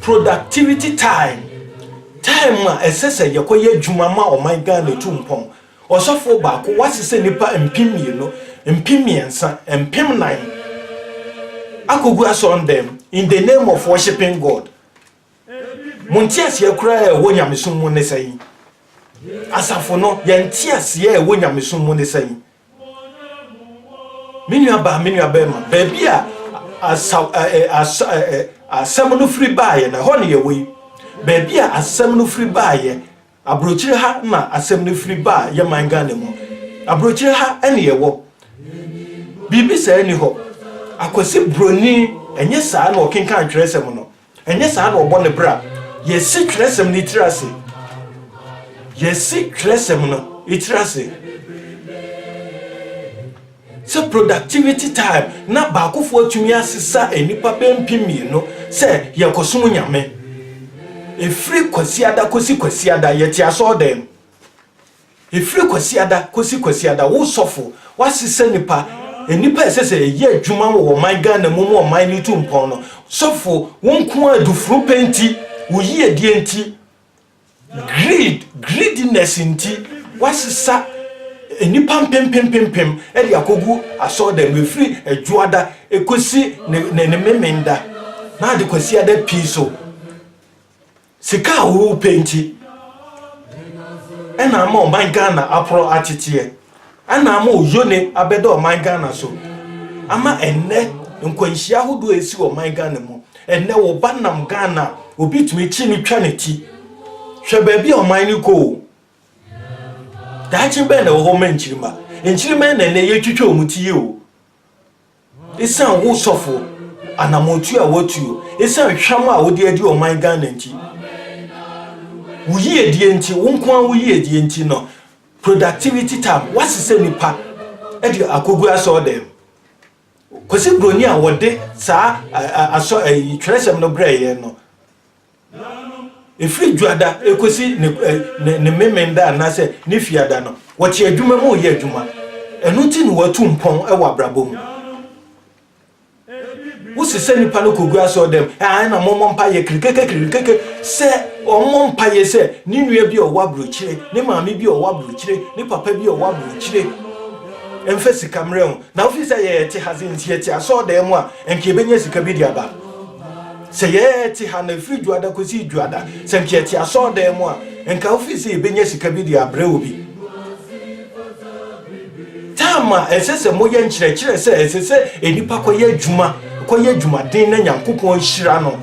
Productivity time, Time a ɛsɛ sɛ yɛkɔ yɛ adwuma ma ɔman Ghana tu mpɔn. Ɔsɔfoɔ baako wasesɛ nnipa mpem mmienu, mpem mmiɛnsa, mpem nan akɔgu asɔrdan mu in the name of worshiping God. Mo nteaseɛ koraa a ɛwɔ nyamesom mu ne sɛn? Asafo no, yɛn nteaseɛ a ɛwɔ nyamesom mu ne sɛn? Me nuabaa, me nuabarima, baabi a asaw ɛ ɛ asa ɛ ɛ asɛm no firi baeɛ no, ɛhɔ na yɛwɔ yi. Baabi a asɛm no firi baeɛ, aburokyire ha na asɛm no firi baa yɛ man Ghana mu. Aburokyire ha na yɛwɔ. Biribi saa nni hɔ. Akwasi Buroni, ɛnyɛ saa na ɔkenkan twerɛsɛm no. Ɛnyɛ saa na ɔbɔ ne bra. Yɛasi Twerɛsɛm no tiri ase. Yɛasi Twerɛsɛm no tiri ase sɛ productivity time na baakofoɔ atumi asesa nnipa bɛyɛ mpem mmienu sɛ yɛkɔsom Nyame. Ɛfiri Kwasiada kɔsi Kwasiada, yɛte asɔɔdan mu. Ɛfiri Kwasiada kɔsi Kwasiada, wo sɔfo, woasesa nnipa, nnipa a ɛsɛ sɛ ɛyɛ adwuma wɔ ɔman Ghana mu ma ɔman no tu mpɔn no. Sɔfo, wo nko ara adufunu pɛ nti, wo yiedie nti, greed, greediness nti, woasesa nnipa mpempempempem de akɔgu asɔrdan mu, ɛfiri Adwoada kɔsi ne Memenda, na ade Kwasiada pii so. Sika a worepɛ nti na ama ɔman Ghana aporɔ ateteɛ, na ama oyone abɛda ɔman Ghana so, ama ɛnnɛ nkwanhyia ahodoɔ a ɛsi wɔ ɔman Ghana mu. Ɛnnɛ wo ba nam Ghana a, obi tumi kyi no twa ne ti. Hwɛ baabi a ɔman no kɔ o. Daakye bɛn na ɛwɔ hɔ ma nkyirimma? Nkyirimma na ɛnnɛ yɛtwitwa wɔn ti yi o. Esiane wo sɔfo anamɔntuo a woatuo, esiane hwam a wode adi ɔman Ghana nti, wo yiedie nti, wo nko ara wo yiedie nti no, productivity time, woasesa nnipa de akɔgu asɔɔdɛm. Kwasi Broni a wɔde saa asɔ ɛyi twerɛsɛm no brɛɛ yɛn no, Ɛfiri Dwoada kɔsi ne Memeneda anaasɛ ne Fiada no, wɔte adwuma mu reyɛ adwuma. Ɛno nti na wɔatu mpɔn wɔ abrabɔ mu. Wosesa nnipa no kɔgu asɔɔdam, ɛna mommɔ mpaeɛ kirikekekirikeke. Sɛ ɔmmɔ mpaeɛ sɛ ne nua bi a ɔwɔ aburokyire, ne maame bi a ɔwɔ aburokyire, ne papa bi a ɔwɔ aburokyire mfa sika mmerɛ ho. Na wofiri sɛ yɛte ha dze nti yɛte asɔɔdan mu a, nka yɛbɛnya sika bi de aba. Sɛ yɛte ha na ɛfiri Dwuada kɔsi Dwuada, sɛ nka yɛte asɔredan mu a, nka wofii sɛ yɛbɛnya sika bi de abrɛ obi. Tam a ɛsɛ sɛ moyɛ nkyerɛkyerɛ sɛ ɛsɛ sɛ nnipa kɔyɛ adwuma, kɔyɛ adwumaden na Nyankopɔn nhyira no.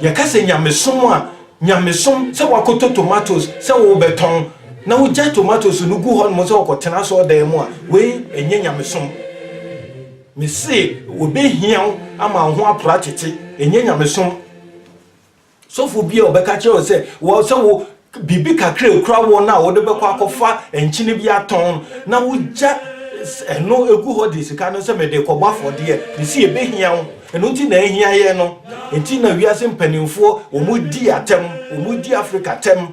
Yɛka sɛ nyamesom a, nyamesom sɛ woakɔtɔ tomatoes sɛ worebɛtɔn na wogya tomatoes no gu hɔnom sɛ wokɔtena asɔredan mu a, wei ɛnyɛ nyamesom. Mese wɔbɛhia wo ama wo ho apra tete, ɛnyɛ nyamesom. Sɔfo bi a ɔbɛka kyerɛ wo sɛ wɔ sɛ wo biribi kakra ekura wɔ no a wode bɛkɔ akɔfa nkyene bi atɔn na wogya ɛno egu hɔ de sika no sɛ mede kɔbɔ afɔdeɛ mesi ebehia wo ɛno nti na ehia yɛ no nti na wiase mpanimfoɔ wɔn di atɛm wɔn di Africa tɛm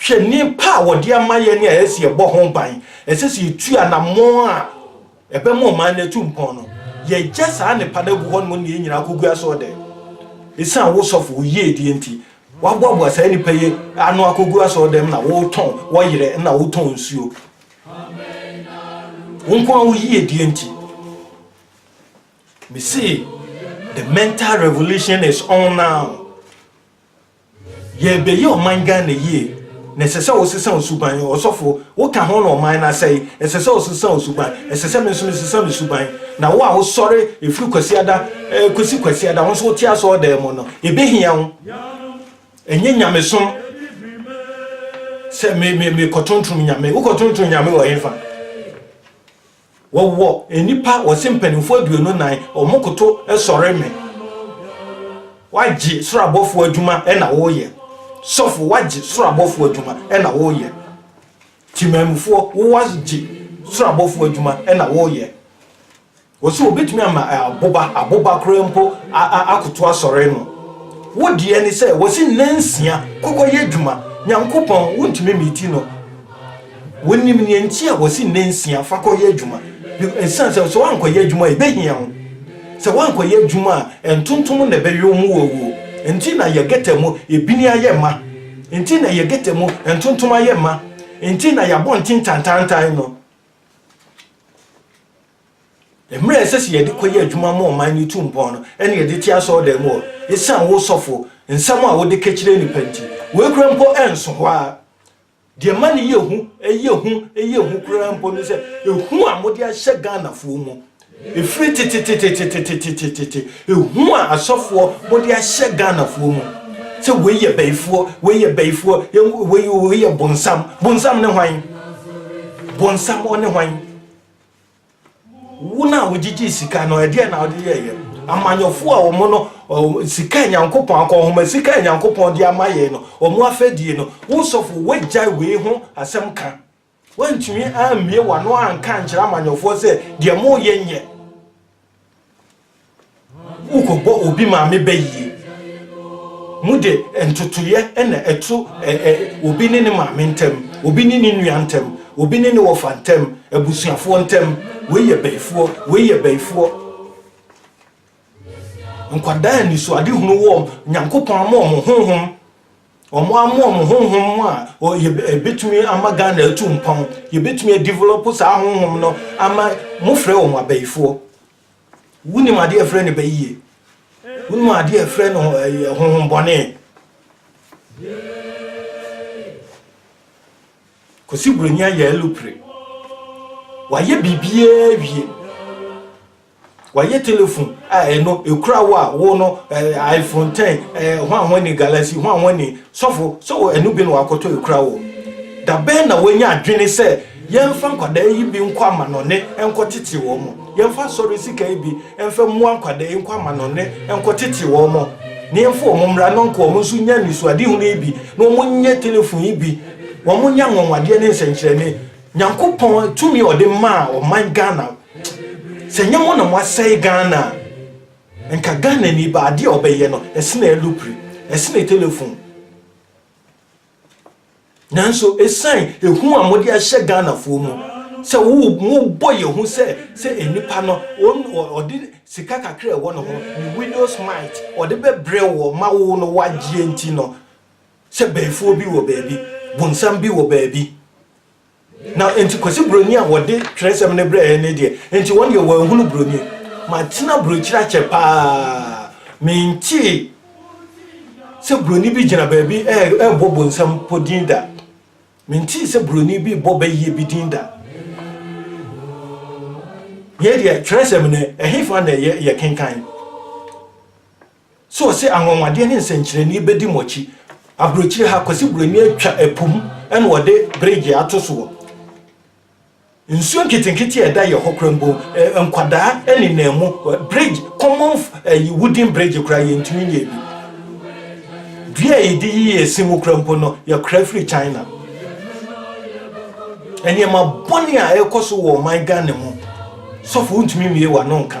Hwɛ nneɛpa a wɔde ama yɛn a ɛsɛ sɛ yɛbɔ ho ban, ɛsɛ sɛ yetu anammɔn a ɛbɛma ɔman no atu mpɔn no. Yɛagya saa nnepa no agu hɔnom na yɛn nyinaa kogu asɔɔdan mu. Esiane wo sɔfo, wo yiedie nti, woaboaboa saa nnipa yi ano akɔgu asɔɔdan mu na wotɔn wɔyerɛ na wotɔn nsuo. Wo nko ara wo yiedie nti. Mese, the mental revolution is on now. Yɛrebɛyɛ ɔman Ghana yie na ɛsɛ sɛ wosesa wo suban, ɔsɔfo, woka ho na ɔman no asɛe, ɛsɛ sɛ wosesa wo suban, ɛsɛ sɛ me nso mesesa me suban, na wo a wosɔre ɛfiri Kwasiada kɔsi Kwasiada, wo nso wote asɔɔdan mu no, ɛbɛhia wo, ɛnyɛ nyamesom sɛ me, me, me kɔtontrom nyame, wokɔtontrom nyame wɔ hefa? Wɔwɔ nnipa wɔse mpanimfoɔ aduonu nnan wɔn koto sɔre me wagye soro abɔfoɔ adwuma na woyɛ sɔfo wagye soro abɔfoɔ adwuma na woyɛ timamufoɔ wowagye soro abɔfoɔ adwuma na woyɛ wɔse wɔbɛtumi ama aboba aboba koraa mpo akoto asɔre no wo deɛ ne sɛ wɔse nansia kɔkɔyɛ adwuma nyankopɔn wontumi miti no Wonim nea enti a wɔse nna nsia fa kɔyɛ adwuma, esiane sɛ sɛ woankɔyɛ adwuma a ebehia wo. Sɛ woankɔyɛ adwuma a, ntontom na ɛbɛwe wo ma woawuo. Enti na yɛ gɛta mu ebini ayɛ ma. Enti na yɛ gɛta mu ntontom ayɛ ma. Enti na yɛ abɔnten tantaantan no. Mmerɛ a ɛsɛ sɛ yɛde kɔyɛ adwuma ma ɔman no tu mpɔn no, ɛna yɛde te asɔredan mu hɔ. Esiane wo sɔfo nsɛm a wode kakyire nnipa nti, wei koraa mpo ɛnso hɔ ara. Deɛ ɛma no yɛ hu, ɛyɛ hu, ɛyɛ hu koraa mpo ne sɛ, ehu a mode ahyɛ Ghanafoɔ mu, ɛfiri tetetetetetetetete, ehu a asɔfoɔ mode ahyɛ Ghanafoɔ mu, sɛ wei yɛ bayifoɔ, wei yɛ bayifoɔ, wei wei yɛ bonsam, bonsam ne hwan? Bonsam ɔne hwan? Wo na wogyigyee sika no, ɛdeɛn na wode yɛeɛ? Amanyɔfoɔ a wɔn no, sika a Nyankopɔn akɔ nhoma, sika a Nyankopɔn de ama yɛn no, wɔn afɛdie no, wo sɔfo, woagyae wei ho asɛm ka. Woantumi ammue w'ano anka ankyerɛ amanyɔfoɔ sɛ deɛ moreyɛ nyɛ. Wokɔbɔ obi maame bayie. Mode ntotoeɛ na ɛto obi ne ne maame ntam, obi ne ne nua ntam, obi ne ne wɔfa ntam, abusuafoɔ ntam. Wei yɛ bayifoɔ, wei yɛ bayifoɔ. Nkwadaa anisoadehunu wɔ wɔn, Nyankopɔn ama wɔn honhom wɔn amoa wɔn honhom a yɛbɛtumi ama Ghana atu mpɔn, yɛbɛtumi adevelop saa honhom no ama mofrɛ wɔn abayifoɔ. Wonim adeɛ a ɛfrɛ no bayie? Wonim adeɛ a ɛfrɛ no honhombɔne? Kwasi Buroni ayɛ alupere. Wayɛ biribiara wie. Wayɛ telefon a ɛno ɛkura wo a wo no iPhone 10 hwanhwan ni Galaxy hwanhwan ni sɔfo sɛ ɛno bi na wakɔtɔ ɛkura wo. Da bɛn na wanya adwene sɛ Yɛmfa nkwadaa yi bi nkɔ amanɔne nkɔtete wɔn. Yɛmfa asɔre sika yi bi mfa mmoa nkwadaa yi nkɔ amanɔne nkɔtete wɔn, na yɛmfa wɔn mmra na nka wɔn nso nya anisoadehunu yi bi, na wɔnyɛ telefon yi bi, wɔnyɛ anwanwadeɛ ne nsɛnkyerɛnne. Nyankopɔn tumi a ɔde maa ɔman Ghana, sɛ nyɛ mo na mo asɛe Ghana a, nka Ghanani baa adeɛ a ɔbɛyɛ no, ɛsene alupri, ɛsene telefon. Nanso ɛsiane ɛhu a mode ahyɛ Ghanafoɔ mu sɛ mobɔ yɛn hu sɛ sɛ nnipa no ɔde sika kakra a ɛwɔ ne ho, ne widow's mite, ɔde bɛbrɛ woɔ ma wo no wagyeɛ nti no, sɛ bayifoɔ bi wɔ baabi, bonsam bi wɔ baabi. Na enti Kwasi Broni a wɔde twerɛsɛm no brɛɛ no deɛ, enti wɔn deɛ wɔanhunu Broni. Matena aburokyire akyɛ pa ara, mentee sɛ Broni bi gyina baabi rebɔ bonsam mpo din da. Mentee sɛ Broni bi rebɔ bayie bi din da. Yei deɛ twerɛsɛm no, ɛhefa na ɛyɛ yɛkenkan? So ɔse anwanwadeɛ ne nsɛnkyerɛnee bɛdi mo akyi? Aburokyire ha, Kwasi Buroni atwa po mu na ɔde bregye ato soɔ. Nsuo nketenkete a ɛda yɛhɔ koraa mpo, nkwadaa nenam mu. Bregye, common ɛyi, wooden bregye koraa yɛntumi nyɛ bi. Dua a yɛde yi yɛ si mu koraa mpo no, yɛkora firi China. Nneɛma bɔne a ɛrekɔ so wɔ ɔman Ghana mu, sɔfo wontumi mmie w'ano nka.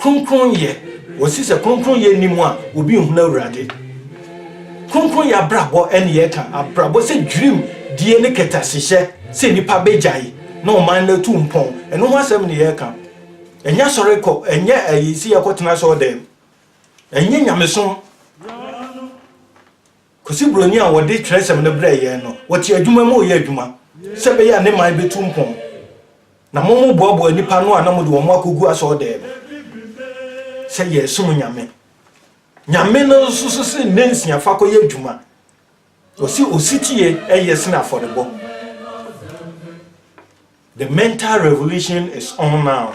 Kronkronyɛ, wɔsi sɛ kronkronyɛ nni mu a obi nhunu Awurade. Kronkronyɛ abrabɔ ne yɛka abrabɔ sɛ dwirim die ne kɛtɛasehyɛ sɛ nnipa bɛgyae na ɔman no atu mpɔn. Ɛno ho asɛm ne yɛka. Ɛnyɛ asɔre kɔ, ɛnyɛ ɛyi si yɛkɔtena asɔre dɛm, ɛnyɛ nyamesom. Kwesi Broni a wɔde twerɛsɛm no brɛɛ yɛn no, wɔte adwuma mu reyɛ adwuma sɛ ɛbɛyɛ a ne man bɛtu mpɔn. Na moboaboa nnipa ano a na mode wɔn akɔgu asɔɔdan mu sɛ yɛresom Nyame. Nyame no nso so se nna nsia fa kɔyɛ adwuma. Ɔse ɔsetie ɛyɛ sene afɔrebɔ. The mental revolution is on now.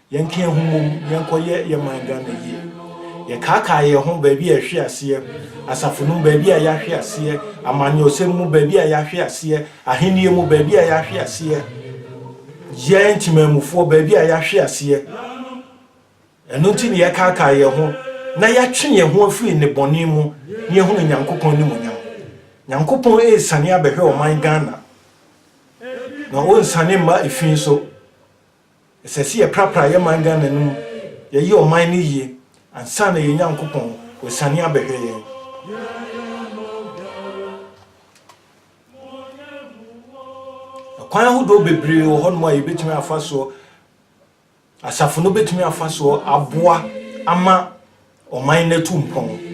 Yɛnka yɛn ho mmom, yɛnkɔyɛ yɛn man Ghana yie. Yɛkaakae yɛn ho baabi a yɛhwe aseɛ, asafo no mu baabi a yɛahwe aseɛ, amanyɔsɛm mu baabi a yɛahwe aseɛ, ahennie mu baabi a yɛahwe aseɛ, yɛn temanmufoɔ baabi a yɛahwe aseɛ. Ɛno nti na yɛkaakae yɛn ho na yɛatwe yɛn ho afiri nnebɔne mu na yɛahunu Nyankopɔn animuonyam. Nyankopɔn resane abɛhwɛ ɔman Ghana, na ɔrensane mma efi nso. Ɛsɛ sɛ yɛprapra yɛ man Ghana no mu, yɛyɛ ɔman no yie ansa na yɛn Nyankopɔn ɔsiane abɛhwɛ yɛn. Ɛkwan ahodoɔ bebree wɔ hɔnom a yɛbɛtumi afa soɔ, asafo no bɛtumi afa soɔ aboa ama ɔman no atu mpɔn.